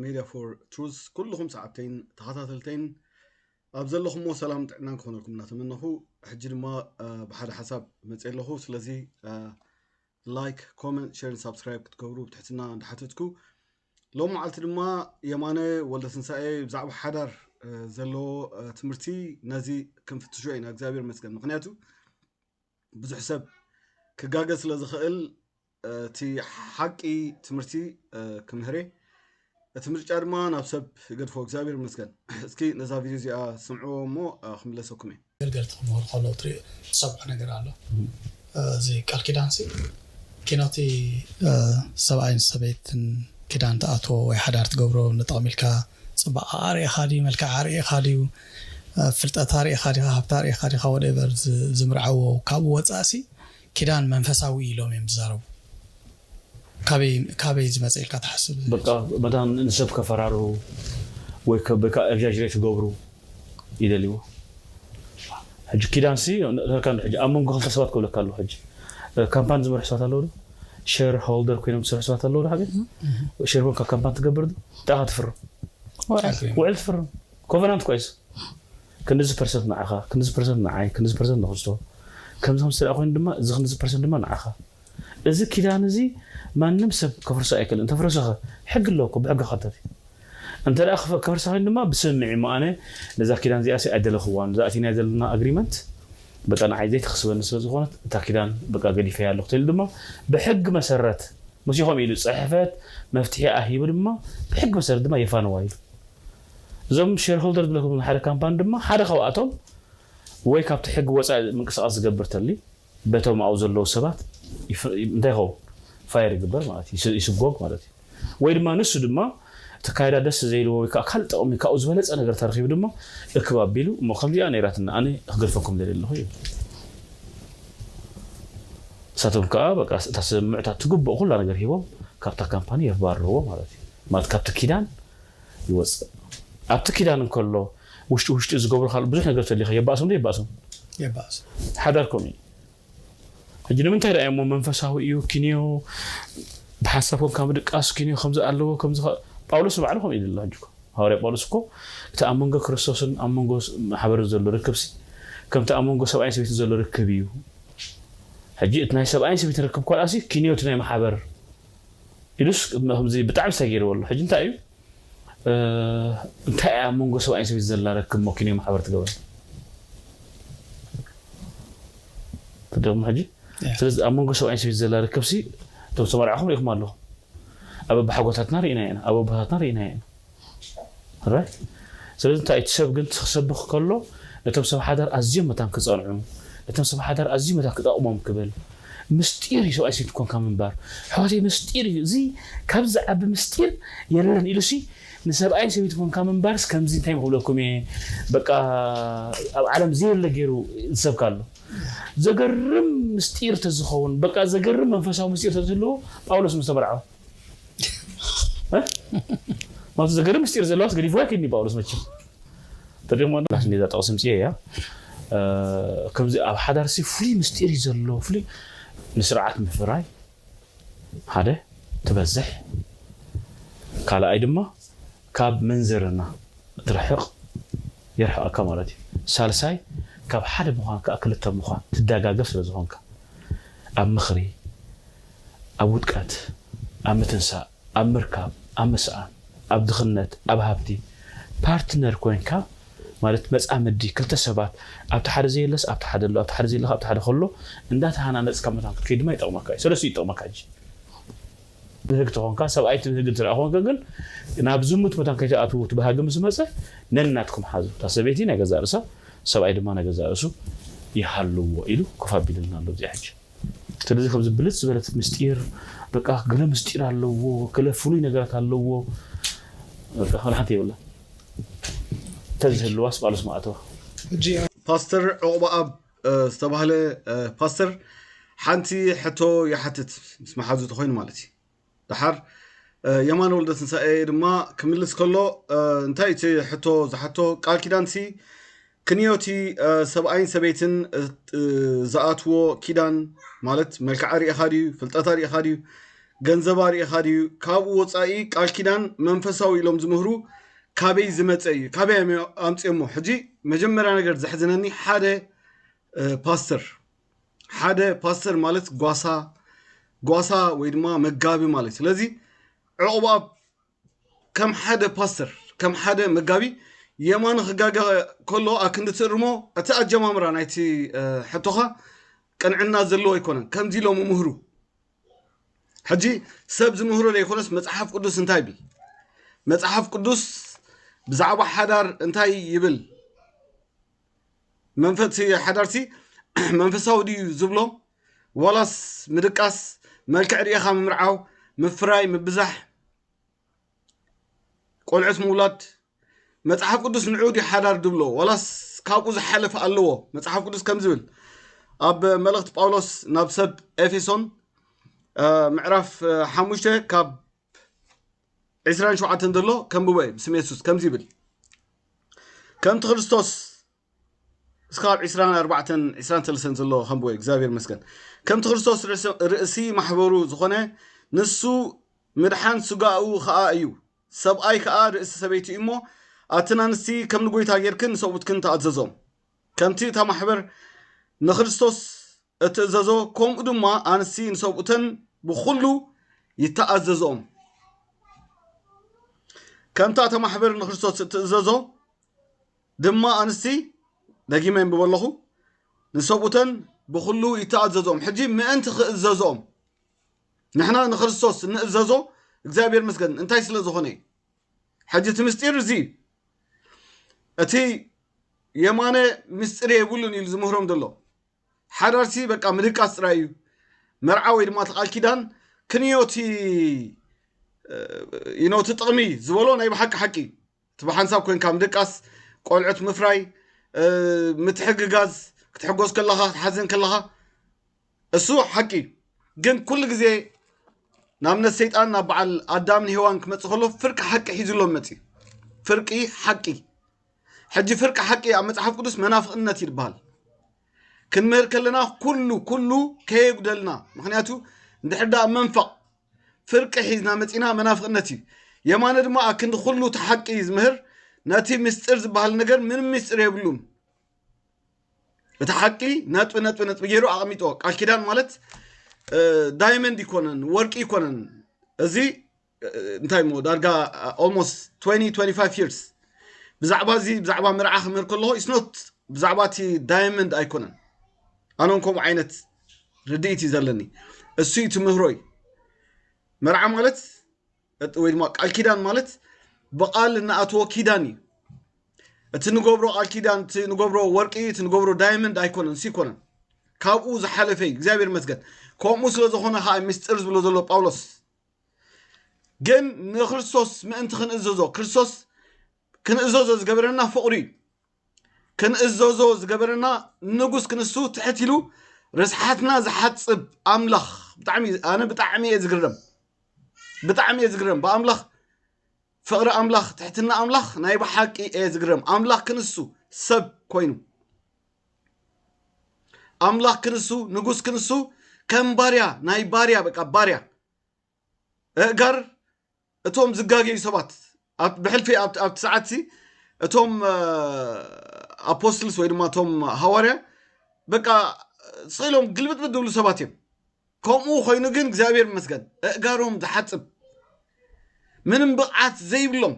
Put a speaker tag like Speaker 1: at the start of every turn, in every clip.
Speaker 1: ሜድያ ፎር ትሩዝ ኩልኹም ሰዓብተይን ተኸታተልተይን ኣብ ዘለኹሞ ሰላም ጥዕናን ክኾነልኩም እናተመነኹ ሕጂ ድማ ብሓደ ሓሳብ መፅ ኣለኹ ስለዚ ላይክ ኮመንት ሸርን ሳብስክራይብ ክትገብሩ ብትሕትና እንዳሓተትኩ ሎም መዓልቲ ድማ የማነ ወልደትንሳኤ ብዛዕባ ሓዳር ዘለዎ ትምህርቲ ነዚ ክንፍትሾ ኢና እግዚኣብሔር መስገን ምክንያቱ ብዙሕ ሰብ ክጋገ ስለ ዝኽእል እቲ ሓቂ ትምህርቲ ክምህሬ እቲ ምርጫ ድማ ናብ ሰብ ይገድፎ እግዚኣብሔር ይመስገን እስኪ ነዛ ቪድዮ እዚኣ ስምዕዎ እሞ ክምለሰኩም እየ ኣገልገልቲ ክምህሩ
Speaker 2: ከለዉ ትሪኦ ትሰምዖ ነገር ኣሎ እዚ ቃል ኪዳን ሲ ኪኖቲ ሰብኣይን ሰበይትን ኪዳን ትኣትዎ ወይ ሓዳር ትገብሮ ንጥቕሚ ኢልካ ጽባቐ ኣርኢኻ ድዩ መልክዕ ኣርኢኻ ድዩ ፍልጠት ኣርኢኻ ዲኻ ሃብቲ ኣርኢኻ ዲኻ ወደቨር ዝምርዓዎ ካብኡ ወጻእሲ ኪዳን መንፈሳዊ እዩ ኢሎም እዮም ዝዛረቡ ካበይ ካበይ ዝመጸ ኢልካ ትሓስብ? በቃ መታን
Speaker 3: ንሰብ ከፈራርሁ ወይ ከበካ ኤግዛጅሬት ክገብሩ ይደልዩ ሕጂ ኪዳን ሲ ነርካ እንዶ ሕጂ ኣብ መንጎ ክልተ ሰባት ክብለካ ኣለኹ ሕጂ ካምፓን ዝመርሑ ሰባት ኣለዉ ዶ ሼር ሆልደር ኮይኖም ዝሰርሑ ሰባት ኣለዉ ዶ ሓቢር ሼር ኮንካ ካምፓን ትገብር ዶ እንታይ ኢኻ ትፍርም ውዕል ትፍርም ኮቨናንት ኳይስ ክንድዚ ፐርሰንት ንዓኻ፣ ክንድዚ ፐርሰንት ንዓይ፣ ክንድዚ ፐርሰንት ንክርስቶ፣ ከምዚ ከምዚ እንተድኣ ኮይኑ ድማ እዚ ክንድዚ ፐርሰንት ድማ ንዓኻ። እዚ ኪዳን እዚ ማንም ሰብ ከፍርሶ ኣይክእልን። እንተፍረሰኸ ሕጊ ኣሎ እኮ ብሕጊ ክሕተት እዩ። እንተድኣ ከፍርሳ ኮይኑ ድማ ብስምምዕ እሞ ኣነ ነዛ ኪዳን እዚኣሲ ኣይደለኽዋን። እዛ ኣቲናዮ ዘለና ኣግሪመንት በቃ ንዓይ ዘይትኽስበኒ ስለ ዝኾነት እታ ኪዳን በቃ ገዲፈያ ኣለኹ ተይሉ ድማ ብሕጊ መሰረት ምስ ኢኹም ኢሉ ጽሕፈት መፍትሒኣ ሂቡ ድማ ብሕጊ መሰረት ድማ የፋንዋ ኢሉ እዞም ሼርሆልደር ዝብለኩም ሓደ ካምፓኒ ድማ ሓደ ካብኣቶም ወይ ካብቲ ሕጊ ወፃኢ ምንቅስቃስ ዝገብር ተሊ በቶም ኣብኡ ዘለዉ ሰባት እንታይ ይኸውን ፋየር ይግበር ማለት እዩ ይስጎግ ማለት እዩ ወይ ድማ ንሱ ድማ ተካይዳ ደስ ዘይልዎ ወይ ከዓ ካልእ ጠቕሚ ካብኡ ዝበለፀ ነገር ተረኪቡ ድማ እክብ ኣቢሉ እሞ ከምዚኣ ነይራትና ኣነ ክገድፈኩም ደልየ ኣለኹ እዩ ንሳቶም ከዓ በቃ እታ ስምምዕታ ትግብኦ ኩላ ነገር ሂቦም ካብታ ካምፓኒ የባርርዎ ማለት እዩ ማለት ካብቲ ኪዳን ይወጽእ። ኣብቲ ኪዳን እንከሎ ውሽጢ ውሽጢ ዝገብሮ ካልእ ብዙሕ ነገር ተሊኻ የባእሶም ዶ የባእሶም? የባእሶም። ሓዳር ከምኡ እዩ። ሕጂ ንምንታይ ደኣ እሞ መንፈሳዊ እዩ ኪንዮ ብሓንሳብ ኮንካ ምድቃስ ኪንዮ ከምዚ ኣለዎ ከምዚ ጳውሎስ ንባዕሉ ከምኡ ኢሉ ኣሎ። ሕጂ ሃዋርያ ጳውሎስ እኮ እቲ ኣብ መንጎ ክርስቶስን ኣብ መንጎ ማሕበርን ዘሎ ርክብሲ ከምቲ ኣብ መንጎ ሰብኣይን ሰበይትን ዘሎ ርክብ እዩ ሕጂ እቲ ናይ ሰብኣይን ሰበይትን ርክብ እኳ ደኣሲ ኪንዮ እቲ ናይ ማሕበር ኢሉስ ከምዚ ብጣዕሚ ሰጊርዎ ኣሎ ሕጂ እንታይ እዩ እንታይ እያ ኣብ መንጎ ሰብኣይን ሰበይቲ ዘላ ረክብ መኪኑ ማሕበር ትገብረ ትደግሞ ሕጂ ስለዚ ኣብ መንጎ ሰብኣይን ሰበይቲ ዘላ ርክብ ሲ እቶም ተመርዕኹም ሪኢኹም ኣለኹም ኣብ ኣባሓጎታትና ርኢና ኢና ኣብ ኣቦታትና ርኢና ኢና Alright ስለዚ እንታይ እዩ እቲ ሰብ ግን ክሰብኽ ከሎ ነቶም ሰብ ሓዳር ኣዝዮም መታን ክጸንዑ ነቶም ሰብ ሓዳር ኣዝዩ መታን ክጠቕሞም ክብል ምስጢር እዩ ሰብኣይ ሰይቲ ኮንካ ምንባር ኣሕዋተይ ምስጢር እዩ እዚ ካብዚ ዝዓቢ ምስጢር የለን ኢሉሲ ንሰብኣይ ሰበይቲ ኮንካ ምንባርስ ከምዚ እንታይ ክብለኩም እየ በቃ ኣብ ዓለም ዘየለ ገይሩ ዝሰብካ ኣሎ ዘገርም ምስጢር ተዝኸውን በቃ ዘገርም መንፈሳዊ ምስጢር ተዝህልዎ ጳውሎስ ምስ ተመርዓወ ማፍዘገረ ምስጢር ዘለዋስ ገዲፎ ኣይከይድን እዩ ጳውሎስ መቸም ተሪኽሞ ኔዛ ጠቕሲ ምፅየ እያ ከምዚ ኣብ ሓዳርሲ ፍሉይ ምስጢር እዩ ዘሎ ፍሉይ ንስርዓት ምፍራይ ሓደ ትበዝሕ ካልኣይ ድማ ካብ ምንዝርና ትርሕቕ የርሕቐካ ማለት እዩ ሳልሳይ ካብ ሓደ ምዃን ከዓ ክልተ ምዃን ትደጋገፍ ስለ ዝኾንካ ኣብ ምኽሪ ኣብ ውድቀት፣ ኣብ ምትንሳእ፣ ኣብ ምርካብ፣ ኣብ ምስኣን፣ ኣብ ድኽነት፣ ኣብ ሃብቲ፣ ፓርትነር ኮይንካ ማለት መጻምዲ ክልተ ሰባት ኣብቲ ሓደ ዘየለስ ኣብቲ ሓደ ኣሎ ኣብቲ ሓደ ዘየለካ ኣብቲ ሓደ ከሎ እንዳተሃናነጽካ መታን ክትከይድ ድማ ይጠቕመካ እዩ ሰለስቲኡ ይጠቕመካ እንጂ ብህግ ተኾንካ ሰብኣይቲ ብህግ እንትርኣ ኮንከ ግን ናብ ዝሙት መታን ከይትኣትዉ እቲ ባህጊ ምስ መጸ ነናትኩም ሓዙ እታ ሰበይቲ ናይ ገዛእ ርእሳ ሰብኣይ ድማ ናይ ገዛእ ርእሱ ይሃልዎ ኢሉ ኮፍ ኣቢልልና ኣሎ እዚኣ ሕጂ ስለዚ ከምዚ ብልጽ ዝበለት ምስጢር በቃ ገለ ምስጢር ኣለዎ ገለ ፍሉይ ነገራት ኣለዎ በቃ ወላ ሓንቲ የብላ ተዝህልዋስ ባሉስ ማኣተዋ
Speaker 1: ፓስተር ዑቕባኣብ ዝተባህለ ፓስተር ሓንቲ ሕቶ ይሓትት ምስ መሓዙ ተኾይኑ ማለት እዩ። ደሓር የማነ ወልደትንሳኤ ድማ ክምልስ ከሎ እንታይ እቲ ሕቶ ዝሓቶ ቃል ኪዳንሲ ክንዮቲ ሰብኣይን ሰበይትን ዝኣትዎ ኪዳን ማለት መልክዓ ሪኢኻ ድዩ ፍልጠታ ሪኢኻ ድዩ ገንዘባ ሪኢኻ ድዩ ካብኡ ወፃኢ ቃል ኪዳን መንፈሳዊ ኢሎም ዝምህሩ ካበይ ዝመፀ እዩ ካበይ ኣምፅኦሞ ሕጂ መጀመርያ ነገር ዘሕዝነኒ ሓደ ፓስተር ሓደ ፓስተር ማለት ጓሳ ጓሳ ወይ ድማ መጋቢ ማለት እዩ ስለዚ ዕቑባ ከም ሓደ ፓስተር ከም ሓደ መጋቢ የማኑ ክጋገ ከሎ ኣክንዲ ትእርሞ እቲ ኣጀማምራ ናይቲ እ፣ ሕቶኻ ቅንዕና ዘለዎ ኣይኮነን ከምዚ ኢሎም ምህሩ ሕጂ ሰብ ዝምህሮ ዘይኮነስ መጽሓፍ ቅዱስ እንታይ ይብል መጽሓፍ ቅዱስ ብዛዕባ ሓዳር እንታይ ይብል መንፈት ሓዳርሲ መንፈሳዊ ድዩ ዝብሎ ዋላስ ምድቃስ መልክዕ ርኢኻ ምምርዓው ምፍራይ ምብዛሕ ቆልዑት ምውላድ መፅሓፍ ቅዱስ ንዑ ድዩ ሓዳር ድብሎ ዋላስ ካብኡ ዝሓለፈ ኣለዎ መፅሓፍ ቅዱስ ከም ዝብል ኣብ መልእኽቲ ጳውሎስ ናብ ሰብ ኤፌሶን ምዕራፍ ሓሙሽተ ካብ ዕስራን ሸውዓተን ዘሎ ከንብቦ እዩ ብስም የሱስ ከምዚ ይብል ከምቲ ክርስቶስ እስካብ ዕስራን ኣርባዕተን ዕስራን ሰለስተን ዘሎ ከንብቦ እዩ እግዚኣብሔር መስገን ከምቲ ክርስቶስ ርእሲ ማሕበሩ ዝኾነ ንሱ ምድሓን ስጋኡ ከዓ እዩ ሰብኣይ ከዓ ርእሲ ሰበይቲ እዩ እሞ ኣትን ኣንስቲ ከም ንጎይታ ጌርክን ሰብኡትክን ተኣዘዞም ከምቲ እታ ማሕበር ንክርስቶስ እትእዘዞ ከምኡ ድማ ኣንስቲ ንሰብኡተን ብኹሉ ይተኣዘዝኦም። ከምታ እታ ማሕበር ንክርስቶስ እትእዘዞ ድማ ኣንስቲ ደጊመ የንብቦ ኣለኹ ንሰብኡተን ብኹሉ ይተኣዘዝኦም። ሕጂ ምእንቲ ክእዘዝኦም ንሕና ንክርስቶስ እንእዘዞ እግዚኣብሔር መስገን እንታይ ስለ ዝኾነ እዩ? ሕጂ እቲ ምስጢር እዚ እዩ እቲ የማነ ምስጢር የብሉን ኢሉ ዝምህሮም ዘሎ ሓዳርሲ በቃ ምድቃስ ጥራይ እዩ መርዓ ወይ ድማ እቲ ቃል ኪዳን ክንዮ እቲ ኢኖ እቲ ጥቕሚ ዝበሎ ናይ ብሓቂ ሓቂ እዩ እቲ ብሓንሳብ ኮንካ ምድቃስ ቆልዑት ምፍራይ ምትሕግጋዝ ክትሕጎስ ከለኻ ክትሓዝን ከለኻ እሱ ሓቂ እዩ ግን ኩሉ ግዜ ንኣብነት ሰይጣን ናብ በዓል ኣዳምን ሄዋን ክመፅእ ከሎ ፍርቂ ሓቂ ሒዙሎም መፅዩ ፍርቂ ሓቂ ሕጂ ፍርቂ ሓቂ ኣብ መፅሓፍ ቅዱስ መናፍቕነት እዩ ዝበሃል ክንምህር ከለና ኩሉ ኩሉ ከየጉደልና ምክንያቱ እንድሕር ዳኣ መንፈቕ ፍርቂ ሒዝና መፂና መናፍቕነት እዩ የማነ ድማ ኣብ ክንዲ ኩሉ እቲ ሓቂ ዝምህር ነቲ ምስጢር ዝበሃል ነገር ምንም ምስጢር የብሉን እቲ ሓቂ ነጥቢ ነጥቢ ነጥቢ ገይሩ ኣቐሚጦ ቃል ኪዳን ማለት ዳይመንድ ይኮነን ወርቂ ይኮነን እዚ እንታይ ሞ ዳርጋ ኦልሞስት 2025 ይርስ ብዛዕባ እዚ ብዛዕባ ምርዓ ክምህር ከለኹ ኢስኖት ብዛዕባ እቲ ዳይመንድ ኣይኮነን ኣነን ከምኡ ዓይነት ርድኢት እዩ ዘለኒ እሱ እዩ ትምህሮይ መርዓ ማለት እቲ ወይ ድማ ቃል ኪዳን ማለት ብቃል እናኣተዎ ኪዳን እዩ እቲ ንገብሮ ቃል ኪዳን እቲ ንገብሮ ወርቂ እቲ ንገብሮ ዳይመንድ ኣይኮነን ሲ ኮነን ካብኡ ዝሓለፈ እዩ እግዚኣብሔር መስገን ከምኡ ስለ ዝኾነ ከዓ ምስጢር ዝብሎ ዘሎ ጳውሎስ ግን ንክርስቶስ ምእንቲ ክንእዘዞ ክርስቶስ ክንእዘዞ ዝገበረና ፍቕሪ እዩ ክንእዘዞ ዝገበረና ንጉስ ክንሱ ትሕት ኢሉ ርስሓትና ዝሓጽብ ኣምላኽ ብጣዕሚ ኣነ ብጣዕሚ እየ ዝግረም ብጣዕሚ እየ ዝግረም ብኣምላኽ ፍቕሪ ኣምላኽ ትሕትና ኣምላኽ ናይ ብሓቂ እየ ዝግረም ኣምላኽ ክንሱ ሰብ ኮይኑ ኣምላኽ ክንሱ ንጉስ ክንሱ ከም ባርያ ናይ ባርያ በቃ ባርያ እእጋር እቶም ዝጋገዩ ሰባት ብሕልፊ ኣብቲ ሰዓትሲ እቶም ኣፖስትልስ ወይ ድማ እቶም ሃዋርያ በቃ ስኢሎም ግልብጥብጥ ዝብሉ ሰባት እዮም ከምኡ ኮይኑ ግን እግዚኣብሔር ይመስገን እእጋሮም ዝሓፅብ ምንም ብቕዓት ዘይብሎም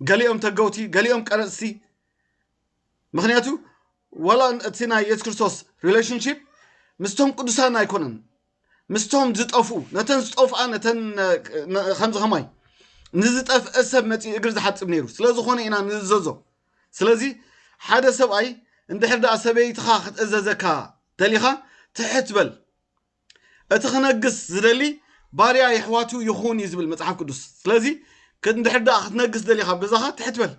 Speaker 1: ገሊኦም ተገውቲ ገሊኦም ቀረፅቲ ምክንያቱ ዋላ እቲ ናይ የሱስ ክርስቶስ ሪሌሽንሽፕ ምስቶም ቅዱሳን ኣይኮነን ምስቶም ዝጠፍኡ ነተን ዝጠፍኣ ነተን ከምዚ ከማይ ንዝጠፍአ ሰብ መፂኡ እግሪ ዝሓፅብ ነይሩ ስለዝኾነ ኢና ንእዘዞ ስለዚ ሓደ ሰብኣይ እንድሕር ደኣ ሰበይትኻ ክትእዘዘካ ደሊኻ ትሕት በል እቲ ክነግስ ዝደሊ ባርያ የሕዋቱ ይኹን እዩ ዝብል መፅሓፍ ቅዱስ ስለዚ እንድሕር ደኣ ክትነግስ ደሊኻ ኣብ ገዛኻ ትሕት በል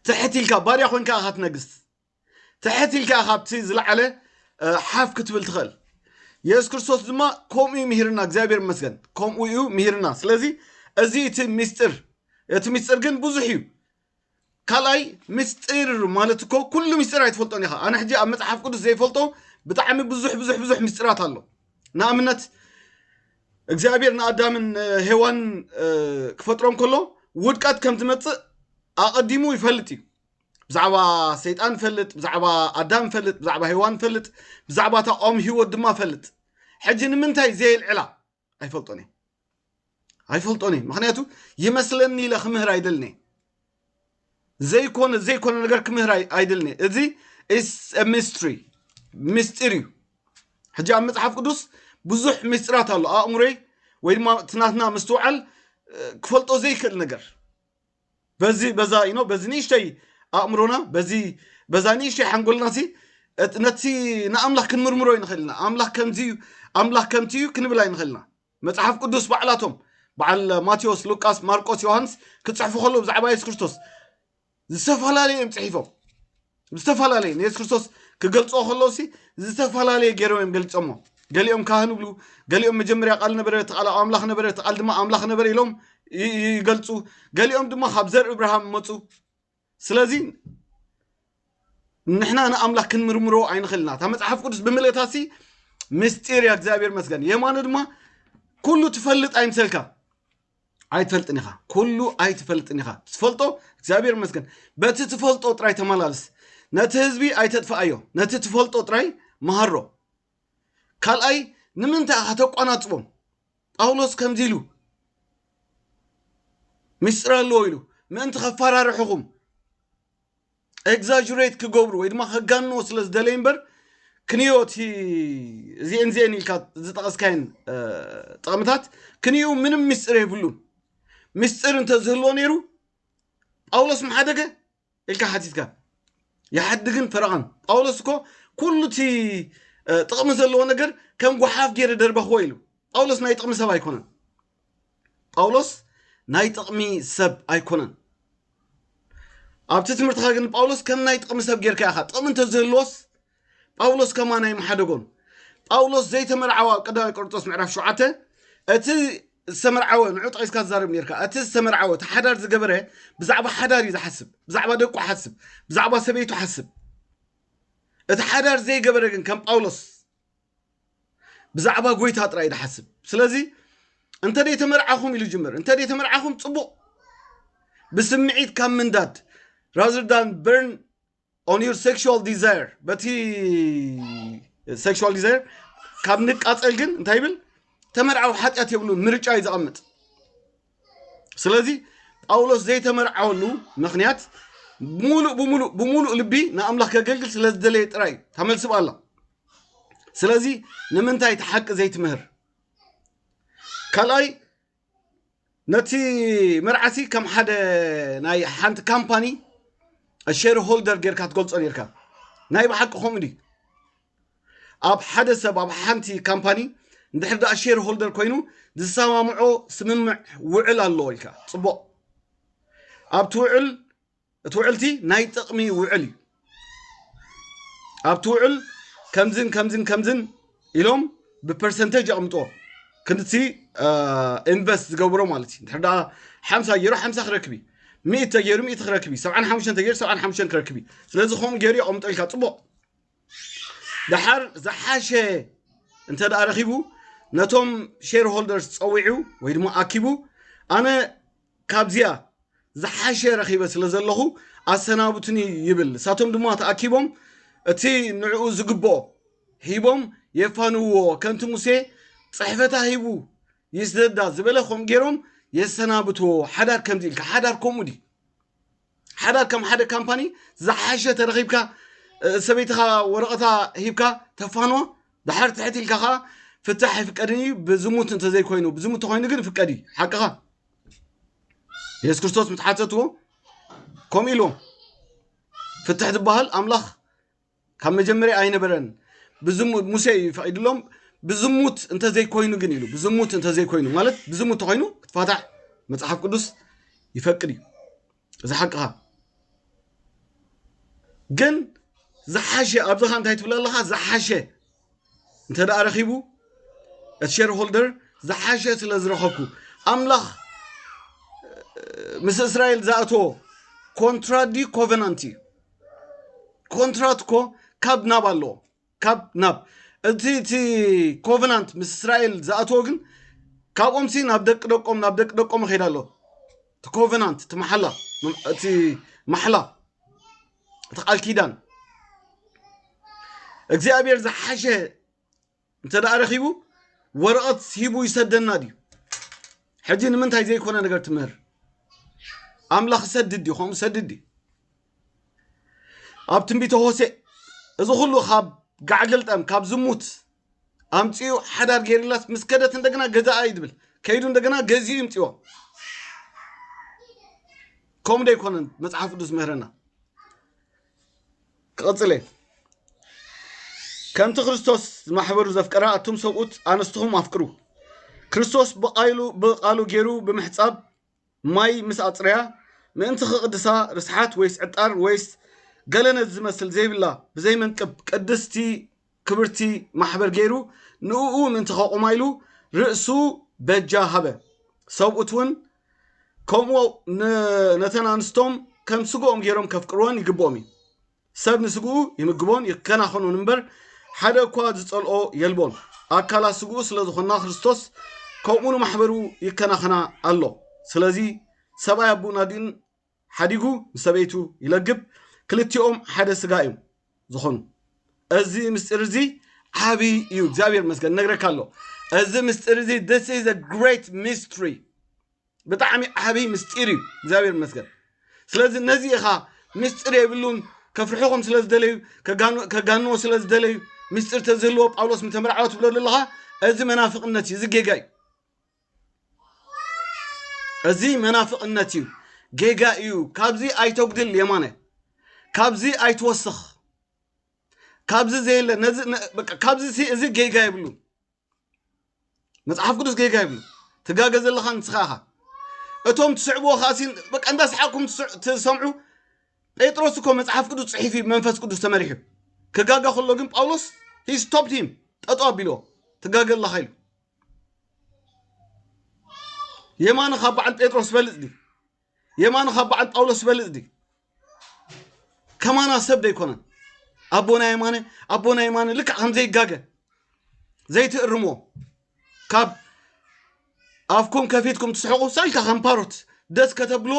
Speaker 1: ትሕት ኢልካ ባርያ ኮንካ ኢኻ ትነግስ ትሕት ኢልካ ካብቲ ዝለዓለ ሓፍ ክትብል ትኽእል የሱስ ክርስቶስ ድማ ከምኡ እዩ ምሂርና እግዚኣብሔር ይመስገን ከምኡ እዩ ምሂርና ስለዚ እዚ እቲ ምስጢር እቲ ምስጢር ግን ብዙሕ እዩ ካልኣይ ምስጢር ማለት እኮ ኩሉ ምስጢር ኣይትፈልጦን ኢኻ ኣነ ሕጂ ኣብ መፅሓፍ ቅዱስ ዘይፈልጦ ብጣዕሚ ብዙሕ ብዙሕ ብዙሕ ምስጢራት ኣሎ ንኣብነት እግዚኣብሔር ንኣዳምን ሄዋን ክፈጥሮም ከሎ ውድቀት ከም ዝመፅእ ኣቐዲሙ ይፈልጥ እዩ ብዛዕባ ሰይጣን ፈልጥ ብዛዕባ ኣዳም ፈልጥ ብዛዕባ ሄዋን ፈልጥ ብዛዕባ እታ ኦም ሂወት ድማ ፈልጥ ሕጂ ንምንታይ ዘየልዕላ ኣይፈልጦን እየ ኣይፈልጦን እየ ምክንያቱ ይመስለኒ ኢለ ክምህር ኣይደልን እየ ዘይኮነ ዘይኮነ ነገር ክምህር ኣይደልን እየ እዚ ሚስትሪ ምስጢር እዩ ሕጂ ኣብ መፅሓፍ ቅዱስ ብዙሕ ምስጢራት ኣሎ ኣእምሮይ ወይ ድማ ትናትና ምስትውዓል ክፈልጦ ዘይክእል ነገር በዚ በዛ ኢኖ በዚ ንእሽተይ ኣእምሮና በዚ በዛ ንእሽተይ ሓንጎልና ሲ ነቲ ንኣምላኽ ክንምርምሮ ይንኽእል ኢና ኣምላኽ ከምዚ እዩ ኣምላኽ ከምቲ እዩ ክንብል ኣይንኽእል ኢና መጽሓፍ ቅዱስ ባዕላቶም በዓል ማቴዎስ ሉቃስ ማርቆስ ዮሃንስ ክጽሕፉ ከለዉ ብዛዕባ የሱስ ክርስቶስ ዝተፈላለዩ እዮም ጽሒፎም ዝተፈላለየ ንየሱስ ክርስቶስ ክገልፅኦ ከለዉ ሲ ዝተፈላለየ ገይሮም እዮም ገሊፆሞ ገሊኦም ካህን ይብሉ ገሊኦም መጀመርያ ቃል ነበረ እቲ ቃል ኣብ ኣምላኽ ነበረ እቲ ቃል ድማ ኣምላኽ ነበረ ኢሎም ይ- ይ- ይገልፁ ገሊኦም ድማ ካብ ዘር እብርሃም መፁ ስለዚ ንሕና ንኣምላኽ ክንምርምሮ ኣይንኽእልና እታ መፅሓፍ ቅዱስ ብምልእታ ሲ ምስጢር እያ እግዚኣብሔር መስገን የማኑ ድማ ኩሉ ትፈልጥ ኣይምሰልካ ኣይትፈልጥን ኢኻ ኩሉ ኣይትፈልጥን ኢኻ ትፈልጦ እግዚኣብሔር ይመስገን በቲ ትፈልጦ ጥራይ ተመላለስ ነቲ ህዝቢ ኣይተጥፍኣዮ ነቲ ትፈልጦ ጥራይ መሃሮ ካልኣይ ንምንታይ ኢኻ ተቋናፅቦም ጳውሎስ ከምዚ ኢሉ ምስጢር ኣለዎ ኢሉ ምእንቲ ከፈራርሕኹም ኤግዛጅሬት ክገብሩ ወይ ድማ ከጋንዎ ስለ ዝደለዩ እምበር ክንዮ እቲ እዚኤን እዚኤን ኢልካ ዝጠቐስካየን ጥቕምታት ክንዩ ምንም ምስጢር የብሉን ምስጢር እንተዝህልዎ ነይሩ ጳውሎስ ምሓደገ ኢልካ ሓቲትካ ይሓድግን ፈረቐን ጳውሎስ እኮ ኩሉ እቲ ጥቕሚ ዘለዎ ነገር ከም ጓሓፍ ገይረ ደርበኽዎ ኢሉ ጳውሎስ ናይ ጥቕሚ ሰብ ኣይኮነን ጳውሎስ ናይ ጥቕሚ ሰብ ኣይኮነን። ኣብቲ ትምህርትኻ ግን ጳውሎስ ከም ናይ ጥቕሚ ሰብ ጌርካ ኢኻ። ጥቕሚ እንተዝህልዎስ ጳውሎስ ከማን ኣይምሓደጎን። ጳውሎስ ዘይተመርዓወ ኣብ ቀዳማይ ቆርንጦስ ምዕራፍ ሸውዓተ እቲ ዝተመርዓወ ንዑ ጠቂስካ ዝዛረብ ኔርካ እቲ ዝተመርዓወ እቲ ሓዳር ዝገበረ ብዛዕባ ሓዳር እዩ ዝሓስብ ብዛዕባ ደቁ ሓስብ ብዛዕባ ሰበይቱ ሓስብ እቲ ሓዳር ዘይገበረ ግን ከም ጳውሎስ ብዛዕባ ጎይታ ጥራይ ዝሓስብ ስለዚ እንተ ዘይተመርዓኹም ኢሉ ጅምር እንተ ዘይተመርዓኹም ፅቡቕ ብስምዒት ካብ ምንዳድ rather than burn on your sexual desire በቲ sexual desire ካብ ንቃፀል ግን እንታይ ይብል ተመርዓዊ ሓጢኣት የብሉን ምርጫ እዩ ዘቐምጥ ስለዚ ጳውሎስ ዘይተመርዓወሉ ምክንያት ሙሉእ ብሙሉእ ብሙሉእ ልቢ ንኣምላኽ ከገልግል ስለ ዝደለየ ጥራይ እዩ ተመልስብ ኣላ ስለዚ ንምንታይ እቲ ሓቂ ዘይትምህር ካልኣይ ነቲ መርዓሲ ከም ሓደ ናይ ሓንቲ ካምፓኒ ሼር ሆልደር ጌርካ ትገልጾ ኔርካ ናይ ብሓቂ ከምኡ ድዩ ኣብ ሓደ ሰብ ኣብ ሓንቲ ካምፓኒ እንድሕር ደኣ ሼር ሆልደር ኮይኑ ዝሰማምዖ ስምምዕ ውዕል ኣለዎ ኢልካ ጽቡቕ ኣብቲ ውዕል እቲ ውዕልቲ ናይ ጥቕሚ ውዕል እዩ ኣብቲ ውዕል ከምዝን ከምዝን ከምዝን ኢሎም ብፐርሰንቴጅ የቕምጥዎ ክንድቲ ኢንቨስት ዝገብሮ ማለት እዩ ድሕር ደኣ ሓምሳ ገይሩ ሓምሳ ክረክብ እዩ ሚእት ተገይሩ ሚእት ክረክብ እዩ ሰብዓን ሓሙሽተን ተገይሩ ሰብዓን ሓሙሽተን ክረክብ እዩ ስለዚ ከምኡ ገይሩ የቕምጦ ኢልካ ፅቡቕ ድሓር ዝሓሸ እንተ ደኣ ረኺቡ ነቶም ሼር ሆልደርስ ፀዊዑ ወይ ድማ ኣኪቡ ኣነ ካብዚኣ ዝሓሸ ረኺበ ስለ ዘለኹ ኣሰናብቱኒ ይብል። ንሳቶም ድማ ተኣኪቦም እቲ ንዕኡ ዝግብኦ ሂቦም የፋንውዎ። ከምቲ ሙሴ ጽሕፈታ ሂቡ ይስደዳ ዝበለ ከምኡ ገይሮም የሰናብትዎ። ሓዳር ከምዚ ኢልካ ሓዳር ከምኡ ድዩ? ሓዳር ከም ሓደ ካምፓኒ ዝሓሸ ተረኺብካ ሰበይትኻ ወረቐታ ሂብካ ተፋኖ ድሓር ትሕት ኢልካ ከዓ ፍታሕ ይፍቀድን እዩ ብዝሙት እንተዘይኮይኑ ብዝሙት ተኮይኑ ግን ፍቀድ እዩ ሓቅኻ የሱስ ክርስቶስ ምትሓተትዎ ከምኡ ኢልዎም ፍትሕ ዝበሃል ኣምላኽ ካብ መጀመርያ ኣይነበረን ብዝሙት ሙሴ እዩ ፈቂድሎም ብዝሙት እንተዘይኮይኑ ግን ኢሉ ብዝሙት እንተዘይኮይኑ ማለት ብዝሙት እንተኮይኑ ክትፋታሕ መፅሓፍ ቅዱስ ይፈቅድ እዩ እዚ ሓቅኻ ግን ዝሓሸ ኣብዚኻ እንታይ ትብል ኣለኻ ዝሓሸ እንተ ደኣ ረኺቡ እቲ ሸር ሆልደር ዝሓሸ ስለ ዝረኸብኩ ኣምላኽ ምስ እስራኤል ዝኣተዎ ኮንትራት ድዩ ኮቨናንት እዩ ኮንትራት እኮ ካብ ናብ ኣለዎ ካብ ናብ እቲ እቲ ኮቨናንት ምስ እስራኤል ዝኣተዎ ግን ካብኦም ሲ ናብ ደቂ ደቆም ናብ ደቂ ደቆም ይኸይድ ኣሎ እቲ ኮቨናንት እቲ መሓላ እቲ ማሕላ እቲ ቃል ኪዳን እግዚኣብሔር ዝሓሸ እንተ ደኣ ረኺቡ ወረቐት ሂቡ ይሰደና ድዩ ሕጂ ንምንታይ ዘይኮነ ነገር ትምህር ኣምላኽ ሰድድ እዩ ከምኡ ሰድድ እዩ ኣብ ትንቢተ ሆሴእ እዚ ኩሉ ካብ ጋዕገልጠም ካብ ዝሙት ኣምፂኡ ሓዳር ጌርላስ ምስ ከደት እንደገና ገዛኣ እዩ ዝብል ከይዱ እንደገና ገዚኡ ይምፅዎ ከምኡ ዶ ኣይኮነን መፅሓፍ ቅዱስ ምህረና ክቕፅል እየ ከምቲ ክርስቶስ ማሕበሩ ዘፍቀራ ኣቱም ሰብኡት ኣነስትኹም ኣፍቅሩ ክርስቶስ ብቃሉ ብቃሉ ገይሩ ብምሕፃብ ማይ ምስ ኣጽረያ ምእንቲ ክቕድሳ ርስሓት ወይስ ዕጣን ወይስ ገለ ነዚ ዝመስል ዘይብላ ብዘይ መንቅብ ቅድስቲ ክብርቲ ማሕበር ገይሩ ንእኡ ምእንቲ ከቑማ ኢሉ ርእሱ በጃ ሃበ ሰብኡት እውን ከምኡ ነተን ኣንስቶም ከም ስግኦም ገይሮም ከፍቅርወን ይግብኦም እዩ ሰብ ንስግኡ ይምግቦን ይከናኸኖን እምበር ሓደ እኳ ዝጸልኦ የልቦን። ኣካላት ስግኡ ስለ ዝኾና ክርስቶስ ከምኡ ንማሕበሩ ይከናኸና ኣሎ። ስለዚ ሰብኣይ ኣቡኡን ኣዲኡን ሓዲጉ ምስ ሰበይቱ ይለግብ፣ ክልቲኦም ሓደ ስጋ እዮም ዝኾኑ። እዚ ምስጢር እዚ ዓብይ እዩ። እግዚኣብሔር ይመስገን እነግረካ ኣሎ። እዚ ምስጢር እዚ this is a great mystery ብጣዕሚ ዓብይ ምስጢር እዩ እግዚኣብሔር ይመስገን ስለዚ ነዚ ኢኻ ምስጢር የብሉን ከፍርሕኹም ስለ ዝደለዩ ከጋንዎ ስለ ዝደለዩ ምስጢር ተዝህልዎ ጳውሎስ ምተመርዓወ ትብሎ ዘለኻ እዚ መናፍቕነት እዩ እዚ ጌጋ እዩ እዚ መናፍቕነት እዩ ጌጋ እዩ ካብዚ ኣይተጉድል የማነ ካብዚ ኣይትወስኽ ካብዚ ዘየለ ነዚ ነ- በቃ ካብዚ ሲ- እዚ ጌጋ የብሉን መጽሓፍ ቅዱስ ጌጋ ይብሉ ትጋገ ዘለኻ ንስኻ ኢኻ እቶም ትስዕብዎ ከዓ በቃ እንዳሰሓቅኩም ትሰምዑ ጴጥሮስ እኮ መጽሓፍ ቅዱስ ጽሒፍ እዩ መንፈስ ቅዱስ ተመሪሑ ክጋገ ከሎ ግን ጳውሎስ ሂ ስቶፕድ ሂም ጠጦ ኣቢልዎ ትጋገ ኣለኻ ኢሉ የማነ ካብ በዓል ጴጥሮስ በልፅ ድዩ የማነ ካብ በዓል ጳውሎስ ዝበልጽ ድዩ? ከማና ሰብ ዘይኮነን ኣቦና የማነ ኣቦና የማነ ልክዕ ከም ዘይጋገ ዘይትእርምዎ ካብ ኣፍኩም ከፊትኩም ትስሕቑ ሳልካ ከም ፓሮት ደስ ከተብሎ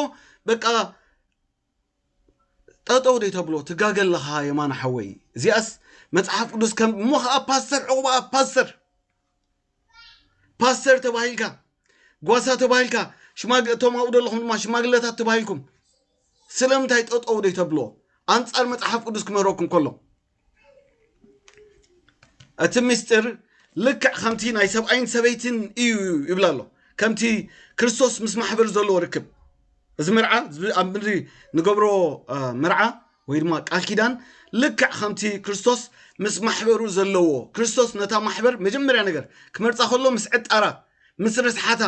Speaker 1: በቃ ጠጠው ደይ ተብሎ ትጋገ ኣለኻ የማነ ሓወይ እዚኣስ መጽሓፍ ቅዱስ ከም እሞ ከዓ ፓስተር ዕቑባ ፓስተር ፓስተር ተባሂልካ ጓሳ ተባሂልካ እቶም ኣብኡ ዘለኹም ድማ ሽማግለታት ተባሂልኩም ስለምንታይ ጠጠው ደይ ተብልዎ ኣንጻር መፅሓፍ ቅዱስ ክምህረኩም ከሎ እቲ ምስጢር ልክዕ ከምቲ ናይ ሰብኣይን ሰበይትን እዩ ይብላ ኣሎ ከምቲ ክርስቶስ ምስ ማሕበር ዘለዎ ርክብ እዚ መርዓ ኣብ ምድሪ ንገብሮ መርዓ ወይ ድማ ቃል ኪዳን ልክዕ ከምቲ ክርስቶስ ምስ ማሕበሩ ዘለዎ ክርስቶስ ነታ ማሕበር መጀመርያ ነገር ክመርፃ ከሎ ምስ ዕጣራ ምስ ርስሓታ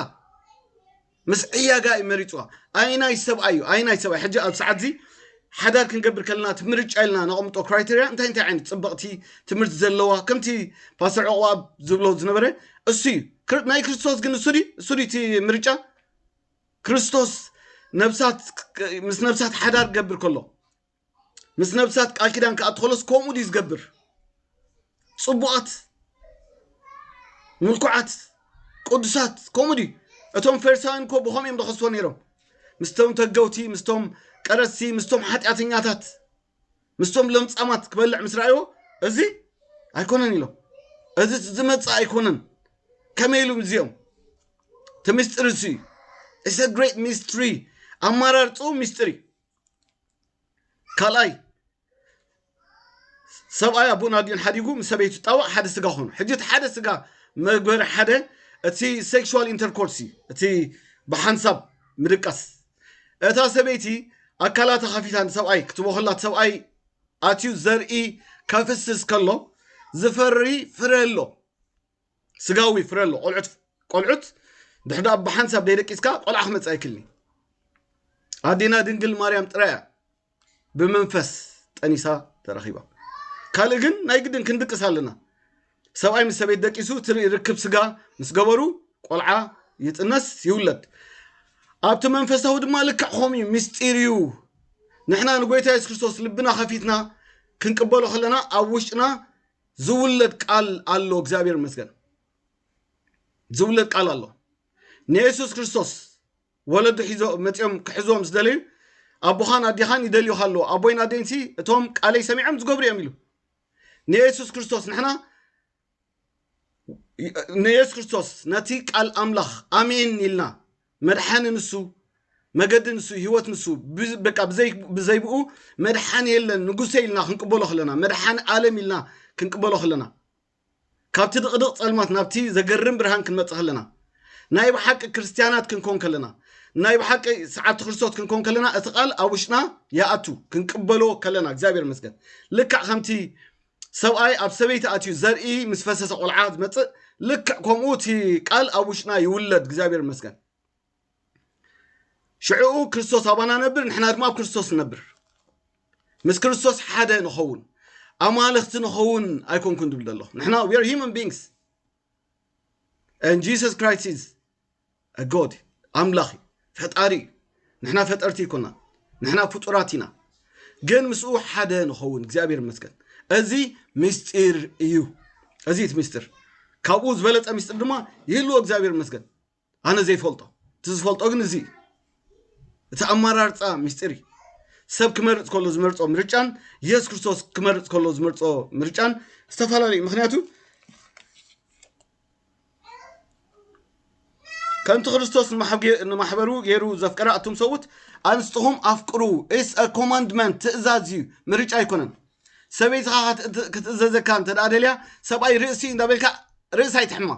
Speaker 1: ምስ ዕያጋ እዩ መሪፅዋ ኣይናይ ሰብኣይ እዩ ኣይናይ ሰብኣይ ሕጂ ኣብ ሰዓት እዚ ሓዳር ክንገብር ከለና እቲ ምርጫ ኢልና ነቐምጦ ክራይቴርያ እንታይ እንታይ ዓይነት ፅበቕቲ ትምህርቲ ዘለዋ ከምቲ ፓስተር ዕቑባብ ዝብሎ ዝነበረ እሱ እዩ ናይ ክርስቶስ ግን እሱ እሱ እቲ ምርጫ ክርስቶስ ነብሳት ምስ ነብሳት ሓዳር ክገብር ከሎ ምስ ነብሳት ቃል ኪዳን ክኣቱ ከሎስ ከምኡ ድዩ ዝገብር ጽቡቓት ምልኩዓት ቅዱሳት ከምኡ ድዩ እቶም ፈሪሳውያን እኮ ብኸምኡ እዮም ዝኸስዎ ነይሮም ምስቶም ተገውቲ ምስቶም ቀረሲ ምስቶም ሓጢኣተኛታት ምስቶም ለምጻማት ክበልዕ ምስ ረኣይዎ እዚ ኣይኮነን ኢሎም እዚ ዝመጽእ ኣይኮነን ከመይ ኢሉ እዚኦም እቲ ምስጢር እሱ እዩ ኢሰ ግሬት ሚስትሪ ኣመራርፅኡ ሚስጢር እዩ ካልኣይ ሰብኣይ ኣቦን ኣዲኡን ሓዲጉ ምስ ሰበይቱ ጣዋዕ ሓደ ስጋ ኮኑ ሕጂ እቲ ሓደ ስጋ መግበሪ ሓደ እቲ ሴክሽዋል ኢንተርኮርስ እዩ እቲ ብሓንሳብ ምድቃስ እታ ሰበይቲ ኣካላታ ከፊታ ንሰብኣይ ክትቦ ከላ እቲ ሰብኣይ ኣትዩ ዘርኢ ከፍስስ ከሎ ዝፈሪ ፍረ ኣሎ ስጋዊ ፍረ ኣሎ ቆልዑት ቆልዑት ድሕዳ ብሓንሳብ ደይደቂስካ ቆልዓ ክመፅእ ኣይክልኒ ኣዴና ድንግል ማርያም ጥራያ ብመንፈስ ጠኒሳ ተረኺባ። ካልእ ግን ናይ ግድን ክንድቅስ ኣለና። ሰብኣይ ምስ ሰበይት ደቂሱ እቲ ርክብ ስጋ ምስ ገበሩ ቆልዓ ይጥነስ ይውለድ ኣብቲ መንፈሳዊ ድማ ልክዕ ከምኡ እዩ ምስጢር እዩ ንሕና ንጎይታ የሱስ ክርስቶስ ልብና ከፊትና ክንቅበሎ ከለና ኣብ ውሽጥና ዝውለድ ቃል ኣሎ እግዚኣብሔር ይመስገን ዝውለድ ቃል ኣሎ ንየሱስ ክርስቶስ ወለዱ ሒዞ መጺኦም ክሕዝዎም ዝደለዩ ኣቦኻን ኣዴኻን ይደልዩኻ ኣለዉ ኣቦይን ኣዴን ሲ እቶም ቃለይ ሰሚዖም ዝገብሩ እዮም ኢሉ ንየሱስ ክርስቶስ ንሕና ንየሱስ ክርስቶስ ነቲ ቃል ኣምላኽ ኣሜን ኢልና መድሓኒ ንሱ መገዲ ንሱ ህይወት ንሱ በቃ ብዘይብኡ መድሓኒ የለን ንጉሰ ኢልና ክንቅበሎ ከለና መድሓኒ ኣለም ኢልና ክንቅበሎ ከለና ካብቲ ድቕድቕ ጸልማት ናብቲ ዘገርም ብርሃን ክንመጽእ ከለና፣ ናይ ብሓቂ ክርስትያናት ክንኮን ከለና፣ ናይ ብሓቂ ሰዓብቲ ክርስቶስ ክንኮን ከለና፣ እቲ ቃል ኣብ ውሽጥና ይኣቱ፣ ክንቅበሎ ከለና፣ እግዚኣብሔር ይመስገን። ልክዕ ከምቲ ሰብኣይ ኣብ ሰበይቲ ኣትዩ ዘርኢ ምስ ፈሰሰ ቆልዓ ዝመጽእ፣ ልክዕ ከምኡ እቲ ቃል ኣብ ውሽጥና ይውለድ፣ እግዚኣብሔር ይመስገን። ሽዕኡ ክርስቶስ ኣባና ነብር ንሕና ድማ ኣብ ክርስቶስ ነብር ምስ ክርስቶስ ሓደ ንኸውን ኣማልኽቲ ንኸውን ኣይኮንኩን ዝብል ዘሎ ንሕና ዌር ሂማን ቢንግስ ን ጂሱስ ክራይስት ኢዝ ጎድ ኣምላኽ እዩ ፈጣሪ እዩ ንሕና ፈጠርቲ ይኮና ንሕና ፍጡራት ኢና ግን ምስኡ ሓደ ንኸውን እግዚኣብሔር ይመስገን እዚ ምስጢር እዩ እዚ እቲ ምስጢር ካብኡ ዝበለፀ ምስጢር ድማ ይህልዎ እግዚኣብሔር ይመስገን ኣነ ዘይፈልጦ እቲ ዝፈልጦ ግን እዚ እዩ እቲ ኣመራርፃ ምስጢር እዩ ሰብ ክመርፅ ከሎ ዝመርፆ ምርጫን የሱስ ክርስቶስ ክመርፅ ከሎ ዝመርፆ ምርጫን ዝተፈላለዩ ምክንያቱ ከምቲ ክርስቶስ ንማሕበሩ ገይሩ ዘፍቀረ ኣቱም ሰብኡት ኣንስትኹም ኣፍቅሩ ኢስ ኮማንድመንት ትእዛዝ እዩ ምርጫ ኣይኮነን ሰበይትኻ ክትእዘዘካ እንተ ደልያ ሰብኣይ ርእሲ እዩ እንዳበልካ ርእሲ ኣይትሕማ